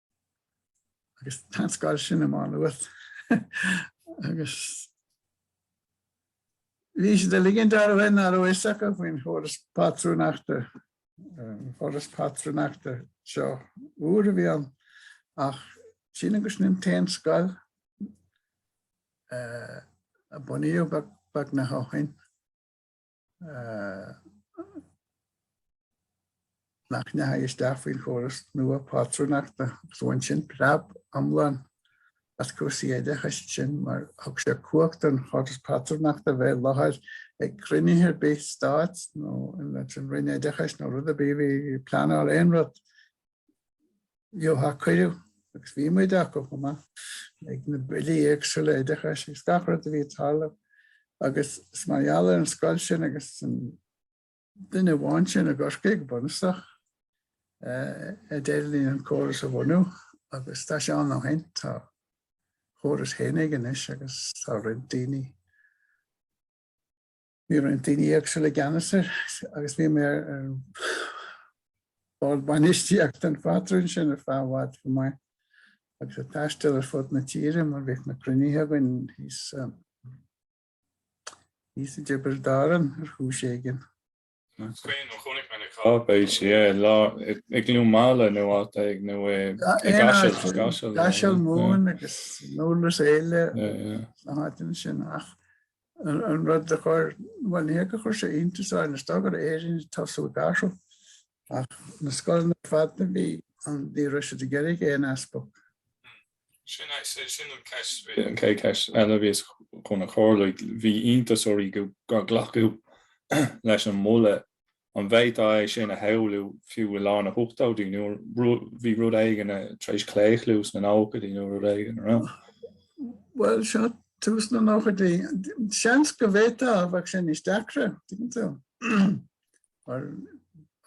agus tá an scoil sin i Má Nuad agus bhí siad ag ligean air nach raibh a fhios acu faoin chóras pátrúnachta, an córas pátrúnachta seo úr a bhí ann ach sin agus ní ann d'aon scoil a bunaíodh beagnach ó shin. nach ndeachaigh isteach faoin chóras nua pátrúnachta agus bhain sin preab iomlán as cúrsaí oideachais ansin mar thug sé cumhacht don chóras pátrúnachta a bheith i láthair ag cruinnithe ar bith stáit nó leis an Roinn Oideachais nó rud ar bith a bhí á phleanáil aon rud Gheobhadh siad cuireadh agus bhí muid ansin chomh maith ag na billí éagsúla oideachais agus gach rud a bhí ag tarlú agus is mar gheall ar an scoil sin agus an duine amháin sin i gCorcaigh go bunúsach a d'éirigh linn an córas a bhunú agus tá sé ann ó shin. Tá córas féin aige anois agus tá roinnt daoine Bhí roinnt daoine éagsúla i gceannas air agus bhí mé ar an bhord bainistíochta an phátrúin sin ar feadh i bhfad chomh maith agus ag taisteal ar fud na tíre mar bhíodh na cruinnithe againn thíos thíos i dTiobraid Árann ar chúis éigin. Is cuimhin liom, chonaic mé na cáipéisí, i gCluain Meala nó áit éigin nó i gCaiseal, Caiseal, Caiseal Mumhan agus Durlas Éile na háiteanna sin ach An rud a chuir, bhuel ní hé gur chuir sé iontas orainn, is dóigh go raibh Éire ag tosú ag athrú ach na scoileanna ar fad ní raibh an, ní raibh siad ag iarraidh aon easpag. Sin é, sin an cheist, an chéad cheist eile a bhí mise chun a chur, bhí iontas oraibh gur glacadh leis an moladh An bhféadfá é sin a shamhlú fiú i lár na n-ochtóidí nó bhí rud éigin tar éis claochlú sna nóchaidí nó rud éigin a raibh? Bhuel seo tús na nóchaidí. Seans go bhféadfá ach bheadh sin níos deacra, tuigeann tú.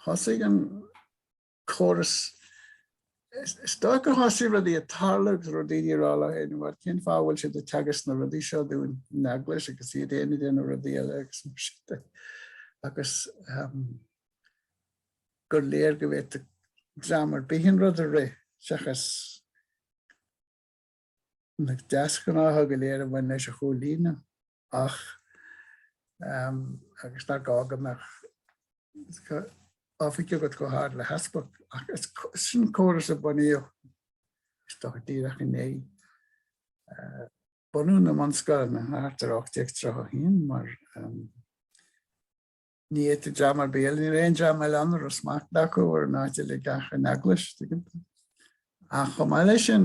Thosaigh an córas. Is dóigh gur thosaigh rudaí ag tarlú agus go raibh daoine ag rá leo féin, bhuel, cén fáth a bhfuil siad ag teagasc na rudaí seo dúinn ón eaglais agus iad féin ag déanamh rudaí eile agus mar sin de. Agus ehm, gur léir go bhféadfadh dream ar bith an rud a rith seachas na deasghnátha go léir a bhain leis a chomhlíonadh. ach agus nár ghá go mbeadh oifig agat chomh hard le heaspag, ach is sin an córas a bunaíodh, is dócha, díreach i ndiaidh bunú na mbunscoileanna thart ar 1831, mar ní fhéadfadh dream ar bith eile, ní raibh aon dream eile ann a raibh smacht acu ar an áit uilig ach an eaglais, tuigeann tú. Ach chomh maith leis sin,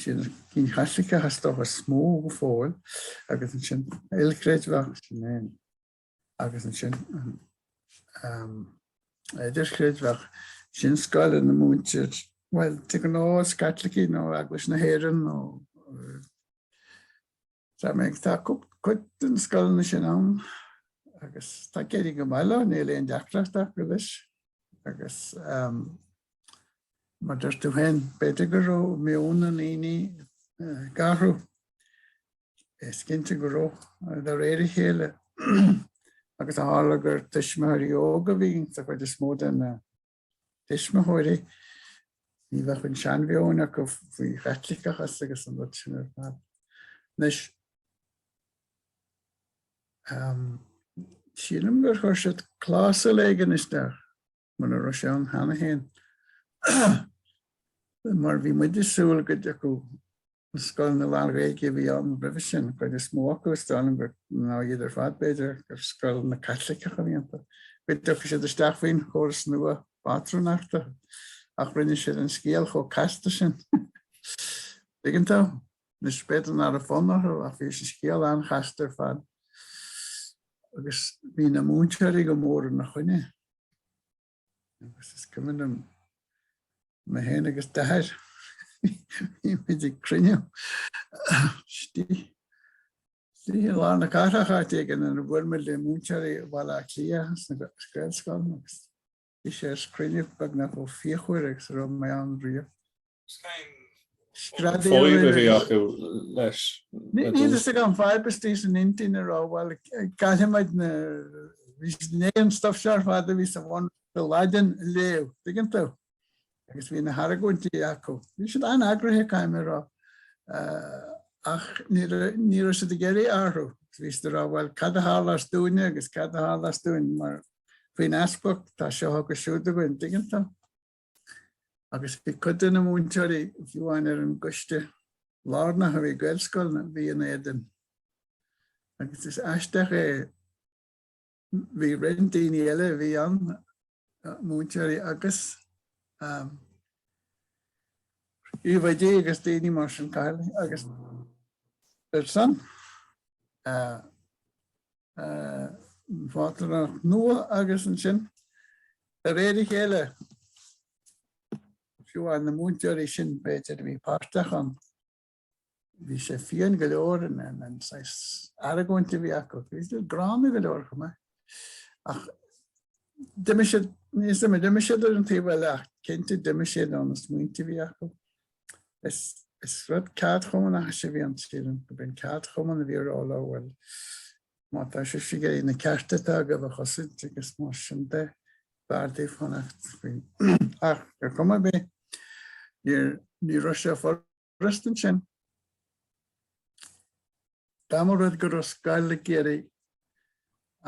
Sin cinn Chaitliceacha is dócha is mó go fóill agus ansin ilchreidmheach, sin é, agus ansin idirchreidmheach, sin scoileanna ina múintear, bhuel, de ghnáth is Caitlicigh nó Eaglais na hÉireann nó. Tá méid, tá cuid de na scoileanna sin ann agus tá ag éirí go maith leo, níl aon deacracht acu leis agus mar a dúirt tú féin b'fhéidir go raibh meon na ndaoine ag athrú, is cinnte go raibh, de réir a chéile agus tharla gur tuismitheoirí óga a bhí sa chuid is mó den tuismitheoirí, ní bheadh an seanmheon acu faoin Chaitliceachas agus an rud sin ar fad. Anois, sílim gur chuir siad clásal éigin isteach, mura raibh sé ann cheana féin, mar bhí muid ag súil go dtiocfadh Scoileanna lán-Ghaeilge a bhí ann roimhe sin, an chuid is mó acu, is dóigh liom gur, nó iad ar fad b'fhéidir, gur scoileanna Caitliceacha a bhí iontu. Go dtiocfadh siad isteach faoin Fhoras nua pátrúnachta ach rinne siad an scéal chomh casta sin. Tuigeann tú? Anois b'fhéidir nár raibh fonn orthu ach bhí an scéal an-chasta ar fad agus bhí na múinteoirí go mór ina choinne. Agus is cuimhin liom mé féin agus Dair, bhí muid ag cruinniú istigh i lár na cathrach áit éigin nuair a bhuail muid le múinteoirí Bhaile Átha Cliath sna Gaelscoileanna agus bhí sé ar chruinniú beagnach chomh fíochmhar agus a raibh mé ann riamh. Fadhb a bhí acu leis. Níl a fhios agam, fadhb istigh san intinn a raibh, bhuel, caithfimid na, bhí siad ag déanamh an stuif seo ar fad a bhí sa bhunreacht a léamh, dtuigeann tú, agus bhí na hargóintí acu. Bhí siad an-eagraithe, caithfidh mé a rá, ach ní raibh, ní raibh siad ag iarraidh athrú. Bhí siad ag rá, bhuel, cad a tharlós dúinne agus cad a tharlós dúinn, mar faoin easpag, tá seo agus siúd againn, dtuigeann tú. Agus bhí cuid de na múinteoirí fiú amháin ar an gcoiste lárnach a bhí ag Gaelscoileanna a bhí in éadan. Agus is aisteach é, bhí roinnt daoine eile a bhí ann, múinteoirí agus príomhoidí agus daoine mar sin, cathaoirligh, agus ar son, Phátrúnacht nua agus ansin de réir a chéile, fiú amháin na múinteoirí sin b'fhéidir a bhí páirteach ann, bhí sé fiáin go leor an saghas argóintí a bhí acu. Bhí sé gránna go leor chomh maith. Ach d'imigh siad, níl fhios agam, d'imigh siad ar an taobh eile ach cinnte d'imigh siad ó na smaointe a bhí acu. Is rud ceardchumannachais a bhí ann. Sílim gurb é an ceardchumann a bhí ag rá leo, bhuel má tá sibhse ag iarraidh na cearta atá agaibh a chosaint agus mar sin de b'fhearr daoibh fanacht faoi. Ach ar chuma ar bith ní raibh sé furasta ansin. Dá mba rud go raibh scoil ag iarraidh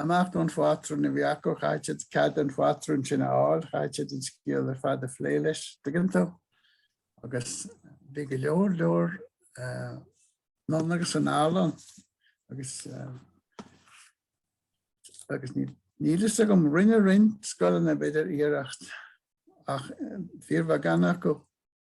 imeacht ón phátrún a bhí acu, chaithfeadh siad cead an phátrún sin a fháil, chaithfeadh siad an scéal ar fad a phlé leis, dtuigeann tú. Agus bhí go leor, leor anonn agus anall ann agus agus níl fhios agam, rinne roinnt scoileanna b'fhéidir iarracht ach fíorbheagán acu.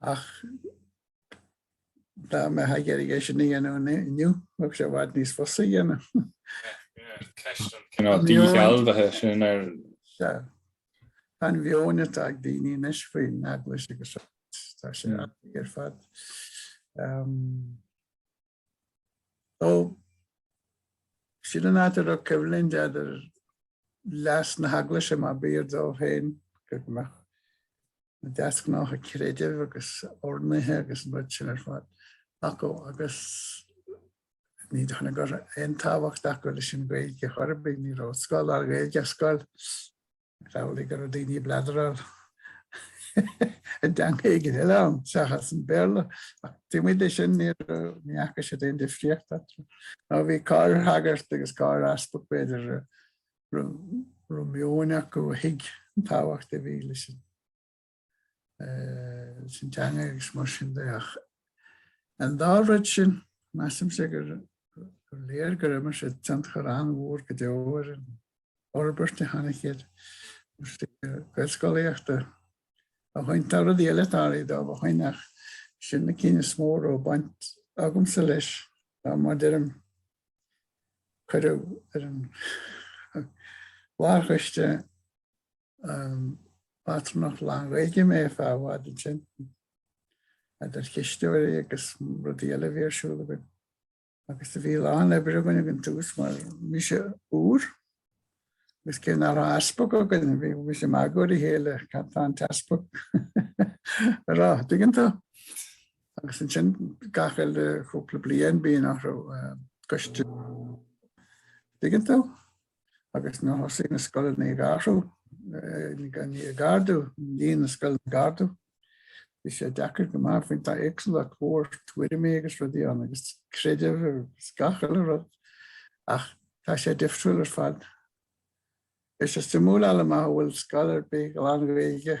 Ach dá mbeifeá ag iarraidh sin a dhéanamh inniu, bheadh sé i bhfad níos fusa a dhéanamh. Ceist an cineál díshealbhaithe sin ar. Sea. Tá an mheon atá ag daoine anois faoin Eaglais agus tá sé ar fad. So, sin an áit a raibh coimhlint idir leas na hEaglaise, má b'fhíor dóibh féin go mbeadh na deasghnátha creidimh agus urnaithe agus an rud sin ar fad acu agus ní dóigh liom go raibh aon tábhacht acu leis an Ghaeilge chor ar bith, ní raibh i scoil lán-Ghaeilge ach scoil. Tharlaigh go raibh daoine ag bleadráil i dteanga éigin eile ann seachas an Béarla, ach taobh amuigh de sin, ní fhaca siad aon difríocht eatarthu. Nó bhí corrshagart agus corr-easpag, b'fhéidir, a raibh meon acu a thuig an tábhacht a bhí leis an. an teanga agus mar sin de ach an dá rud sin measaimse gur léir gur imir sé tionchar an-mhór go deo ar an fhorbairt a tháinig sa ghaelscolaíocht ó shin tá rudaí eile tarlaithe dóibh ó shin ach sin na cinn is mó ó baint agamsa leis á mar a deirim cuireadh ar an mhórchoiste Pátrúnacht lán-Ghaeilge mé feadh i bhfad ansin, idir chisteoirí agus rudaí eile a bhí ar siúl againn. Agus do bhí a lán oibre againn ag an tús mar bhí sé úr, agus cé nach raibh easpag againn, bhímis ag magadh ar a chéile, cad tá an t-easpag a rá, dtuigeann tú? Agus ansin gach uile chúpla bliain bíonn athrú coiste, dtuigeann tú? agus nuair a thosaigh na scoileanna ag athrú, ag ardú, líon na scoileanna ag ardú, bhí sé deacair go maith, bhí an tá éagsúlacht mhór tuairimí agus rudaí ann agus creideamh agus gach uile rud ach tá sé difriúil ar fad. Is suimiúil eile maith a bhfuil scoil ar bith lán-Ghaeilge.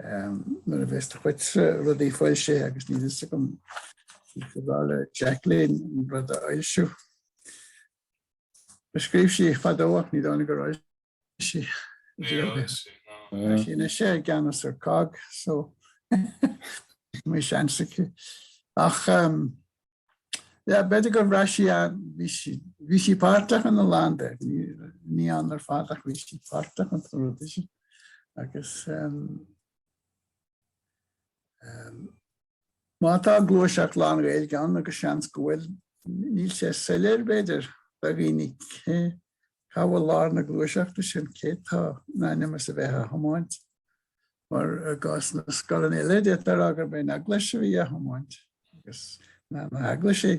Nuair a bheas do chuid rudaí foilsithe agus níl a fhios agam ar mhaith le Jacqueline an rud a fhoilsiú. A scríobh sí fadó ach ní dóigh liom gur fhoilsigh sí é. Tá sí i gceannas ar COGG so beidh seans aici ach Yeah, b'fhéidir go raibh sí bhí sí páirteach in a lán de. Ní ann ar fad ach bhí sí páirteach sa rud sin agus um, um, má tá gluaiseacht lán-Ghaeilge ann agus seans go bhfuil níl sé soiléir b'fhéidir do dhaoine Cá bhfuil lár na gluaiseachta sin? Cé tá in ainm is a bheith á thiomáint? Mar i gcás na scoileanna eile, d'fhéadfá a rá gurb é an Eaglais a bhí á thiomáint agus na heaglaisí,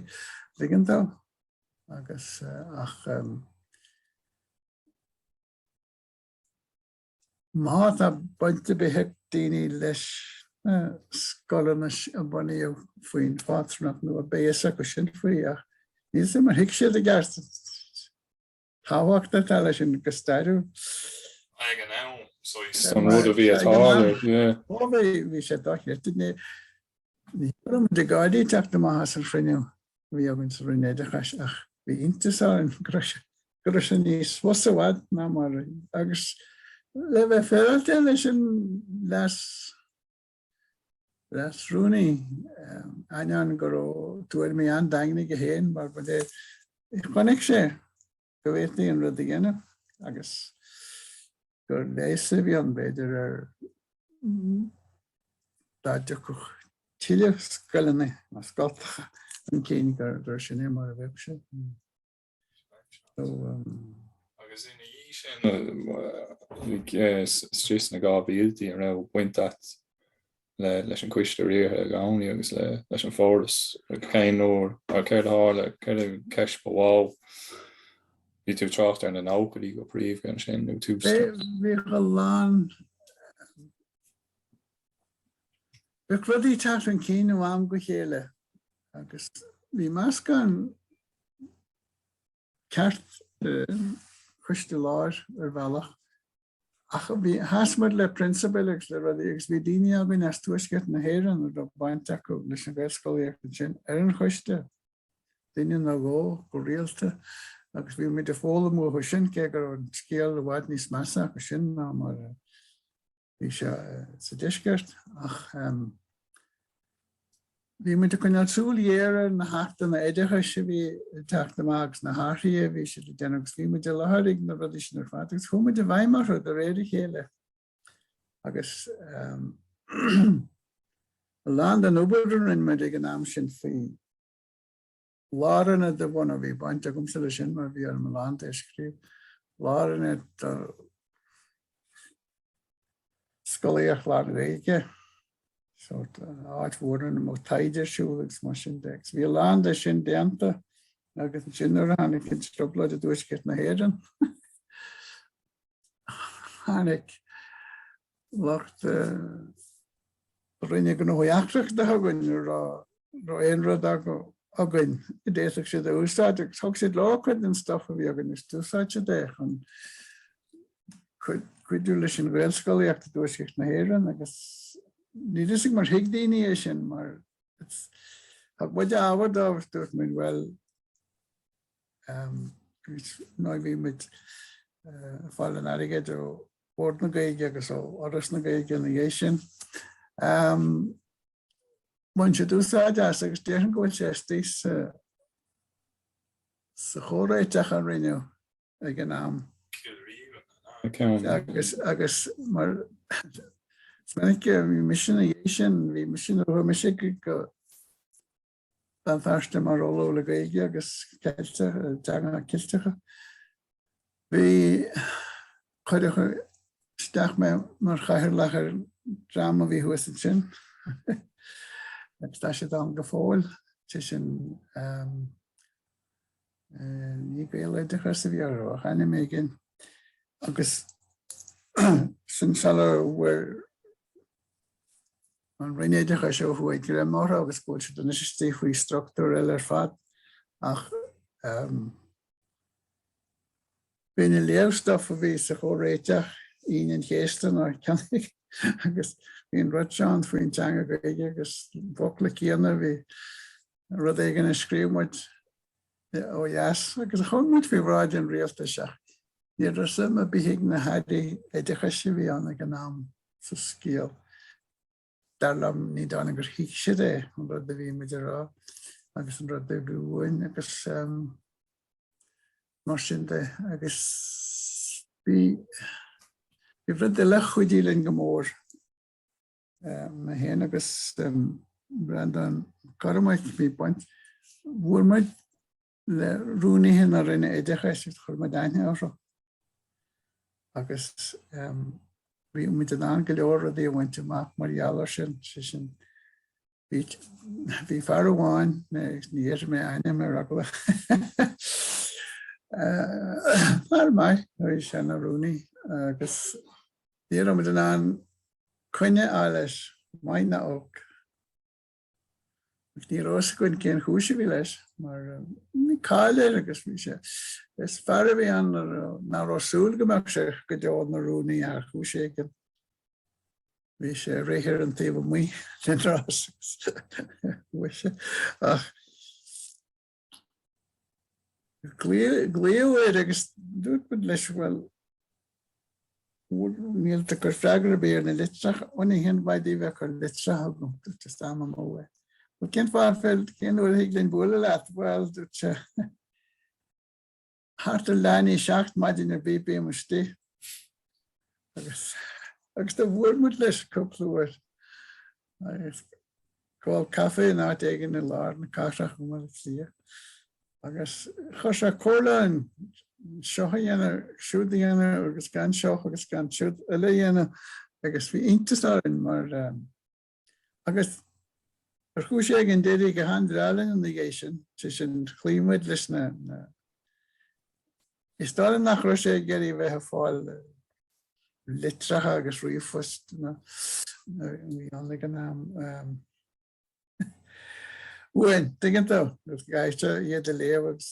dtuigeann tú, agus ach. Má tá baint ar bith ag daoine leis na scoileanna a bunaíodh faoin phátrúnacht nua beidh a fhios acu sin faoi ach níl a fhios agam ar thuig siad i gceart an tábhacht atá leis sin go stairiúil. Ag an am, so he's- An rud a bhí atá, yeah. Ó, bhí- bhí sé dochreidte. Ní- Bhí muid ag gáirí ag teacht amach as an chruinniú a bhí againn sa Roinn Oideachais ach bhí iontas orainn go raibh sé go raibh sé níos fusa i bhfad ná mar a agus le bheith féaráilte leis an leas leasrúnaí ainneoin go raibh tuairimí an-daingne aige féin mar ba léir chonaic sé go bhféadfaí an rud a dhéanamh agus gur leigheas a bhí ann b'fhéidir ar dá dtiocfadh tuilleadh scoileanna nó scoilteacha chun cinn gur sin é mar a bheadh sé. Agus ina dhiaidh sin, tar éis na dhá mhíltí, an raibh baint agat leis an gcoiste riartha i gcónaí agus leis an bhForas ag aon uair. Mar céard a tharla? Céard an cheist ba mhó? Bhí tú ag trácht ar na nóchaidí go príomha ansin nó tús na. Bhíodh a lán. Bhíodh rudaí ag teacht chun cinn ó am go chéile agus bhí meascán. ceart coiste láir ar bhealach ach bhí sheas muid le prionsabail agus le rudaí agus bhí daoine againn as Tuaisceart na hÉireann a raibh baint acu leis an Ghaelscolaíocht ansin ar an choiste, duine nó dhó go rialta agus bhí muid ag foghlaim uathu sin cé go raibh an scéal i bhfad níos measa acu sin ná mar a Bhí sé sa deisceart ach bhí muid ag coinneáil súil ghéar ar na hachtanna oideachais a bhí ag teacht amach agus na hathruithe a bhí siad ag déanamh agus bhí muid i láthair ag na rudaí sin ar fad agus chuaigh muid i bhfeidhm orthu de réir a chéile agus a lán den obair a rinne muid ag an am sin faoi Lárionad a bhunú, bhí baint agamsa leis sin mar bhí orm a lán de a scríobh. Lárionad do scolaíocht lán-Ghaeilge, sórt áit mhór ina mbeadh taighde ar siúl agus mar sin de. Agus bhí a lán de sin déanta agus ansin nuair a tháinig an trioblóid i dTuaisceart na hÉireann, tháinig lucht Roinne Gnóthaí Eachtracha chugainn an raibh aon rud againn a d'fhéadfadh siad a úsáid agus thug siad leo cuid den stuff a bhí againn agus d'úsáid siad é chun cuidiú leis an Ghaelscolaíocht i dTuaisceart na hÉireann agus níl a fhios agam ar thuig daoine é sin mar thug muid ábhar dóibh agus dúirt muid bhuel ná bhí muid ag fáil an airgid ó Bhord na Gaeilge agus ó Fhoras na Gaeilge ina dhiaidh sin. Bhain siad úsáid as agus déarfainn go bhfuil sé istigh sa sa chomhréiteach a rinneadh ag an am. Agus agus mar is minic bhí mise ina dhiaidh sin, bhí mise nó chuaigh mise go Béal Feirste mar ollamh le Gaeilge agus Ceilteach, teangacha Ceilteacha. Bhí, chuireadh isteach mé mar chathaoirleach ar dhream a bhí thuas ansin agus tá siad ann go fóill, sé sin ní Gaeloideachas a bhí orthu ach ainm éigin agus sin sula bhfuair An Roinn Oideachais seo ó thuaidh, go raibh maith agat agus go bhfuil siad anois istigh faoi structúr eile ar fad ach bhí muid ag léamh stuff a bhí sa chomhréiteach Aoine an Chéasta faoin teanga agus bhí an rud seo ann faoin teanga Ghaeilge agus na focla céanna bhí rud éigin a scríobh muid ó dheas agus chuir muid faoi bhráid an rialtais ach ní raibh suim ar bith ag na hairí oideachais a bhí ann ag an am sa scéal. Dar liom ní dóigh liom gur thuig siad é an rud a bhí muid ag rá agus an rud a bhí uainn agus um, mar sin de agus bhí rud eile a chuidigh linn go mór mé féin agus Breandán Mac Cormaic bhí baint bhuail muid le rúnaithe na Roinne Oideachais agus chuir muid aithne orthu agus bhí muid in ann go leor rudaí a bhaint amach mar gheall ar sin sé sin bhí fear amháin ní déarfaidh mé a ainm ar eagla fear maith a bhí ann ina rúnaí agus Ní raibh muid in ann coinne a fháil leis, maith ná olc. Ach ní raibh fhios againn cén chúis a bhí leis mar bhí cáil air agus bhí sé, is fear a bhí ann nach raibh súil go mbeadh sé go deo ina rúnaí ar chúis éigin. Bhí sé réidh ar an taobh amuigh den rás ach. Ghlaoigh muid air agus dúirt muid leis, bhuel, níl tú ag cur freagra ar bith ar na litreacha, ó níl aon mhaith daoibh a bheith ag cur litreacha chugam, dúirt sé, is am amú é. Bhuel, cén fáth an féidir, cén uair a thig linn bualadh leat? Bhuel, dúirt sé. Thart ar leath i ndiaidh a seacht maidin ar bith bím istigh agus agus do bhuail muid leis cúpla uair ag ól caife in áit éigin i lár na cathrach i mBaile Átha Cliath agus chuir sé comhairle orainn seoch a dhéanamh, siúd a dhéanamh agus gan seoch agus gan siúd eile a dhéanamh agus bhí iontas orainn mar Agus ar chúis éigin d'éirigh go han-bhreá linn ina dhiaidh sin, sé sin chloígh muid leis na Is dóigh liom nach raibh sé ag iarraidh a bheith ag fáil litreacha agus ríomhphost nó a bhí ann ag an am. Uainn, tuigeann tú, agus go gcaithfeadh sé iad a léamh agus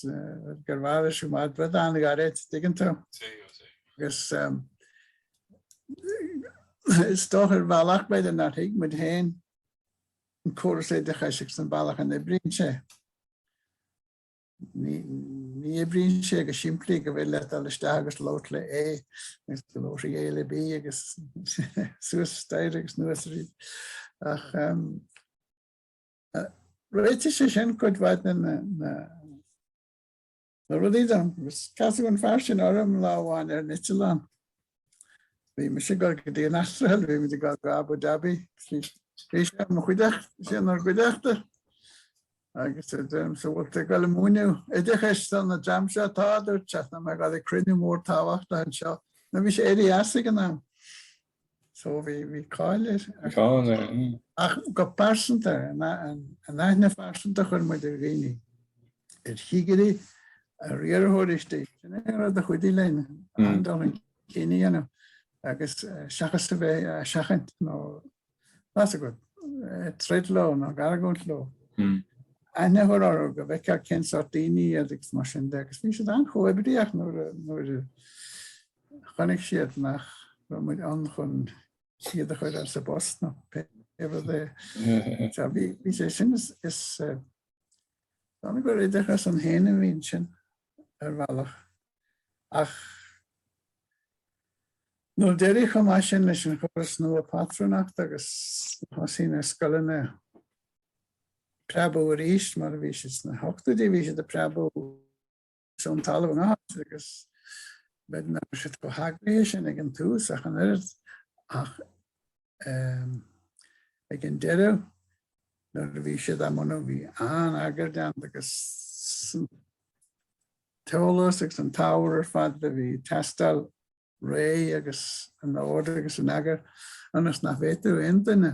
gurbh fhearr leis siúd b'fhéidir rud an-ghairid, tuigeann tú. Agus Is dócha ar bhealach b'fhéidir nár thuig muid féin an córas oideachais agus an bealach a n-oibríonn sé. Ní oibríonn sé go simplí go bhfuil leat dul isteach agus labhairt le A agus go labhródh A le B agus suas staighre agus nuas aríst. Ach um, réitigh sé sin cuid mhaith na na rudaí dom, agus casadh an fear sin orm lá amháin ar an eitleán. Bhí mise ag dul go dtí an Astráil, bhí muid ag dul go Abu Dhabi, bhí sé i mo chuideachta, bhí sé inár gcuideachta, agus a deirimse an bhfuil tú ag dul ag múineadh oideachais don dream seo, tá, a dúirt sé, tá mé ag dul ag cruinniú mór tábhachtach anseo. Nó bhí sé éirithe as ag an am. So bhí bhí cáil air, cáil air mm. Ach go pearsanta an aithne phearsanta chuir muid ar dhaoine ar chigirí, ar riarthóirí istigh sin é rud a chuidigh linn mm. ag dul chun cinn an am agus eh, seachas a bheith ag seachaint nó b'fhéidir ag eh, troid leo nó ag argóint leo. Mm. Aithne a chur orthu go bhfeicfear cén sórt daoine agus mar sin de agus bhí siad an-chomhoibríoch nuair Chonaic siad nach raibh muid ann chun iad a chur as a bpost nó pé rud é. Sea, bhí sé sin, is dóigh gur oideachas ann féin a bhí ansin, ar bhealach. Ach nuair d'éirigh chomh maith sin leis an chóras nua pátrúnachta agus thosaigh na scoileanna ag preabadh arís, mar a bhí siad sna hochtóidí, bhí siad ag preabadh, as an talamh i ngach áit agus b'fhéidir nach raibh sé chomh heagraithe sin ag an tús ach an oiread ach ag an deireadh nuair a bhí siad á mbunú bhí an-eagar déanta agus an t-eolas agus an t-ábhar ar fad a bhí ag teastáil réidh agus in ord agus in eagar ionas nach bhféadfadh aon duine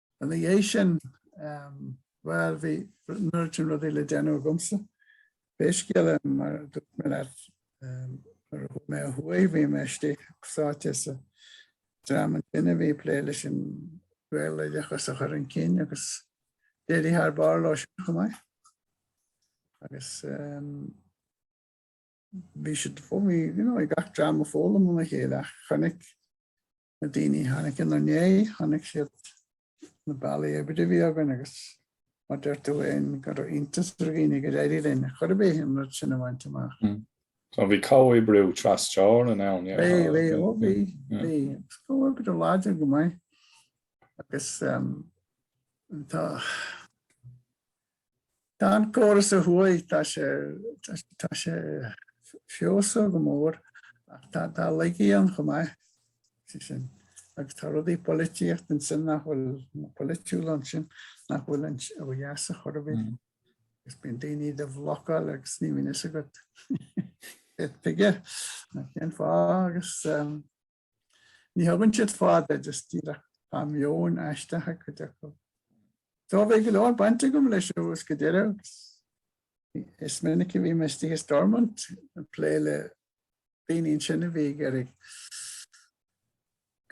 Ina dhiaidh sin, bhuel, bhí neart rudaí le déanamh agamsa. Pé scéal é, mar a dúirt mé leat, nuair a chuaigh mé ó thuaidh, bhí mé istigh sáite sa dream ansin a bhí ag plé leis an Ghaeloideachas a chur chun cinn agus d'éirigh thar barr leo sin chomh maith. Agus bhí siad fós, bhí, you know, bhí gach dream ag foghlaim óna chéile ach chonaic Na daoine tháinig inár ndéidh, chonaic siad na bealaí oibre a bhí againn agus mar a deir tú fhéin go raibh iontas ar dhaoine gur éirigh linn cuir i gcéill an rud sin a bhaint amach. So, bhí comhoibriú trasteorann ann, yeah. Bhí, bhí, ó bhí, bhí. Is comhoibriú láidir go maith agus tá, Tá an córas a thuaidh tá sé tá sé feabhsaithe go mór ach tá tá laigí ann chomh maith sé sin agus tá rudaí polaitíocht ansin nach bhfuil nó polaitiúla ansin nach bhfuil ann ó dheas ar chor ar bith agus bíonn daoine do do bhlocáil agus ní bhíonn fhios agat tuige nó cén fáth agus Ní thugann siad fáth duit ach díreach, tá meon aisteach ag cuid acu. So bhí go leor baint agam leis ó thús go deireadh agus is minic a bhí mé istigh i Stormont ag plé le daoine ansin a bhí ag iarraidh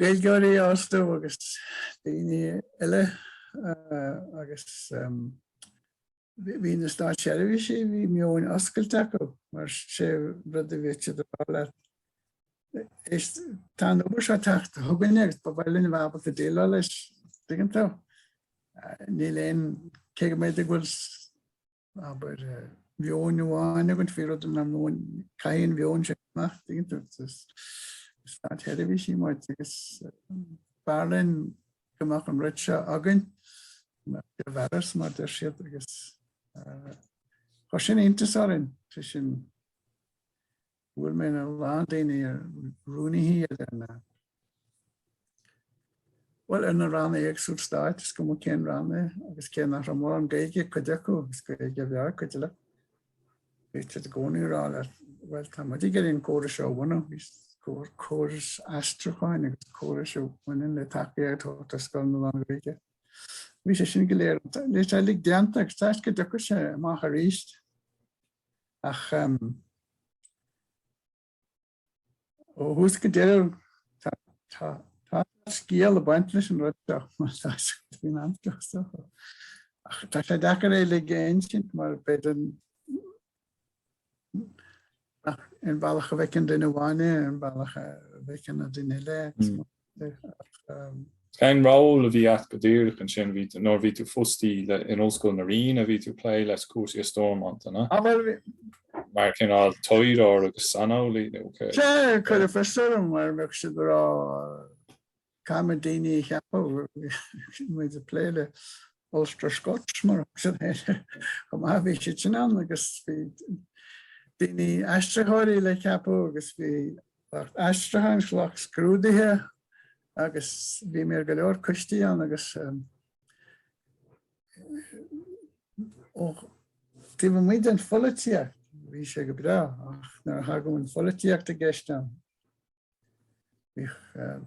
Gaeilgeoirí a fhostú agus daoine eile agus Bhí na státseirbhísigh, bhí meon oscailte acu, mar sé rud a bhí siad ag rá leat. Is tá an obair seo ag teacht chugainn agus ba mhaith linn a bheith ábalta déileáil leis, dtuigeann tú. Níl aon, cé go mb'fhéidir go bhfuil abair meon amháin againn faoi rud an meon, caithfidh an meon sin amach, dtuigeann tú, státseirbhísigh muid agus b'fhearr linn go mbeadh an rud seo againn, go mbeadh sé ar fhearas, mar deir siad, agus chuir sin iontas orainn, tá sin, bhuail mé le a lán daoine ar rúnaithí ar na, bhuel ar na ranna éagsúil stáit, is cuma cén rannóg agus cé nach raibh mórán Gaeilge ag cuid acu, is Gaeilge bhreá ag cuid eile. Bhí siad i gcónaí ag rá leat, bhuel, tá muid ag iarraidh an córas seo a bhunú. Córas aistriúcháin agus córais a bhaineann le tacaíocht a thabhairt do scoileanna lán-Ghaeilge. Bhí sé sin go léir is uilig déanta agus tá súil go dtiocfaidh sé amach arís. Ach. Ó thús go deireadh tá tá tá scéal ag baint leis an rud seo mar tá sé faoin am seo so ach tá sé deacair é uilig a insint mar b'fhéidir nach ionann an bhealach a bhfeiceann duine amháin é is an bealach a bhfeiceann an duine eile agus Cén ról a bhí agat go díreach ansin nuair a bhí tú fostaí in Ollscoil na Ríona a bhí tú ag plé le cúrsaí i Stormont, an ea? Mar chineál taidhleoir agus saineolaí nó cé? Sea, cuireadh fios orm mar bheadh siad ag rá, 'Caithfidh muid daoine a cheapadh, caithfidh muid ag plé le Ulster Scots mar agus an eile chomh maith. Bhí sé sin ann agus bhí daoine aistritheoirí le ceapadh agus bhí aistriúcháin is lucht scrúduithe agus bhí mé ar go leor coistí ann agus taobh amuigh den pholaitíocht bhí sé go breá ach nuair a thagadh an pholaitíocht i gceist ann Bhíodh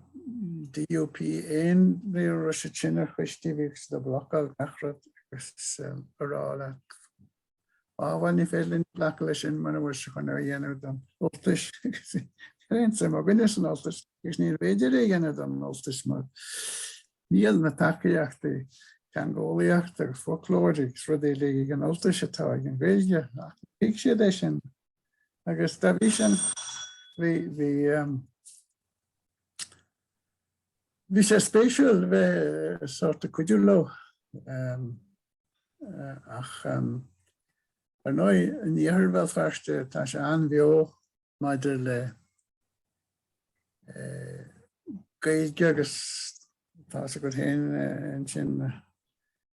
DUP ann riamh sna coistí, bhíodh siad ag blocáil achan rud agus ag rá, Á bhuel, ní féidir linn glacadh leis sin mura bhfuil sé chun é a dhéanamh don Ultais. Níl aon suim againn leis an Ultais agus ní féidir é a dhéanamh don Ultais mar níl na tacaíochtaí, teangeolaíochta agus foclóra agus rudaí uilig ag an Ultais atá ag an Ghaeilge. Ach ní thuig siad é sin. agus dá bhrí sin bhí sé spéisiúil bheith sórt ag cuidiú leo ach ar ndóigh in iarthar Bhéal Feirste tá sé an-bheo maidir le Gaeilge agus tá a fhios agat féin ansin.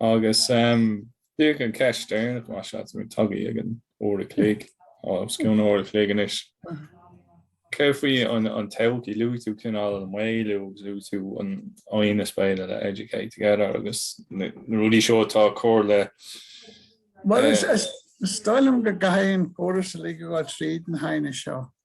Agus bíodh an cheist dheireanach más ea, táimid tagtha ag an uair a chloig, os cionn an uair a chloig anois, céard faoi an todhchaí? Luaigh tú cineál an maolú agus luaigh tú an lánaineas béime le Educate Together agus na rudaí seo atá ag cur le. Bhuel, is dóigh liom go gcaithfidh an córas uilig a ghabháil tríd an aighneas seo.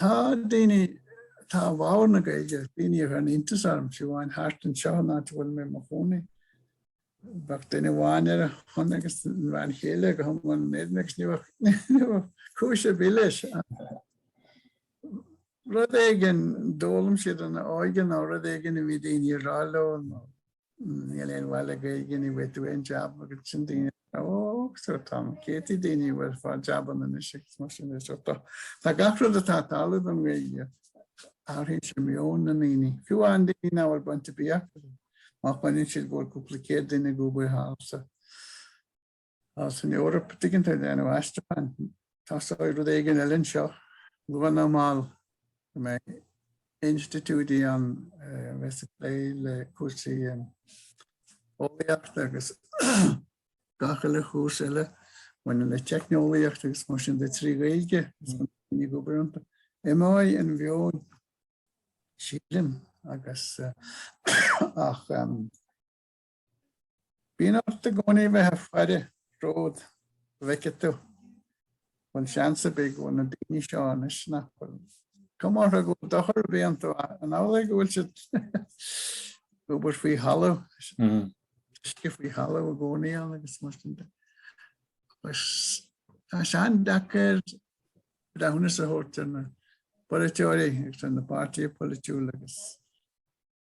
Tá daoine atá i bhfabhar na Gaeilge, daoine a bheadh iontas ormsa fiú amháin thart anseo an áit a bhfuil mé i mo chónaí. Bheadh duine amháin ar a shon agus an bhean chéile go hiomlán in éadan agus ní bheadh cúis ar bith leis rud éigin a d'fhoghlaim siad ina n-óige nó rud éigin a bhí daoine ag rá leo nó Níl aon mhaith le Gaeilge ní bhfaighidh tú aon jab agus ansin daoine oh so Tom Katie daoine ag fáil jabanna anois agus mar sin is so Tá gach rud atá ag tarlú don Gaeilge athraíonn sé meon na ndaoine fiú an daoine ná bhfuil bainteach má chíonn siad go bhfuil cúpla céad duine ag obair thall sa San Eoraip, an dtuigeann tú, ag déanamh aistriúcháin. Tosóidh rud éigin eile anseo. Luath nó mall go mbeidh institiúidí ann a bheidh ag plé le cúrsaí eolaíochta agus gach uile chúrsaí eile a bhaineann le teicneolaíocht agus mar sin de trí Ghaeilge. Is daoine ag obair iontu. Imeoidh an meon, sílim, agus ach. Bíonn ort i gcónaí bheith ar faire go bhfeicfidh tú an bhfuil seans ar bith go bhfuil na daoine seo anois nach bhfuil cuma orthu go bhfuil dochar ar bith iontu an amhlaidh go bhfuil siad ag obair faoi thalamh, faoi thalamh i gcónaí ann agus mar sin de. Agus tá sé an-deacair breithiúnas a thabhairt ar na polaiteoirí agus ar na páirtithe polaitiúla agus.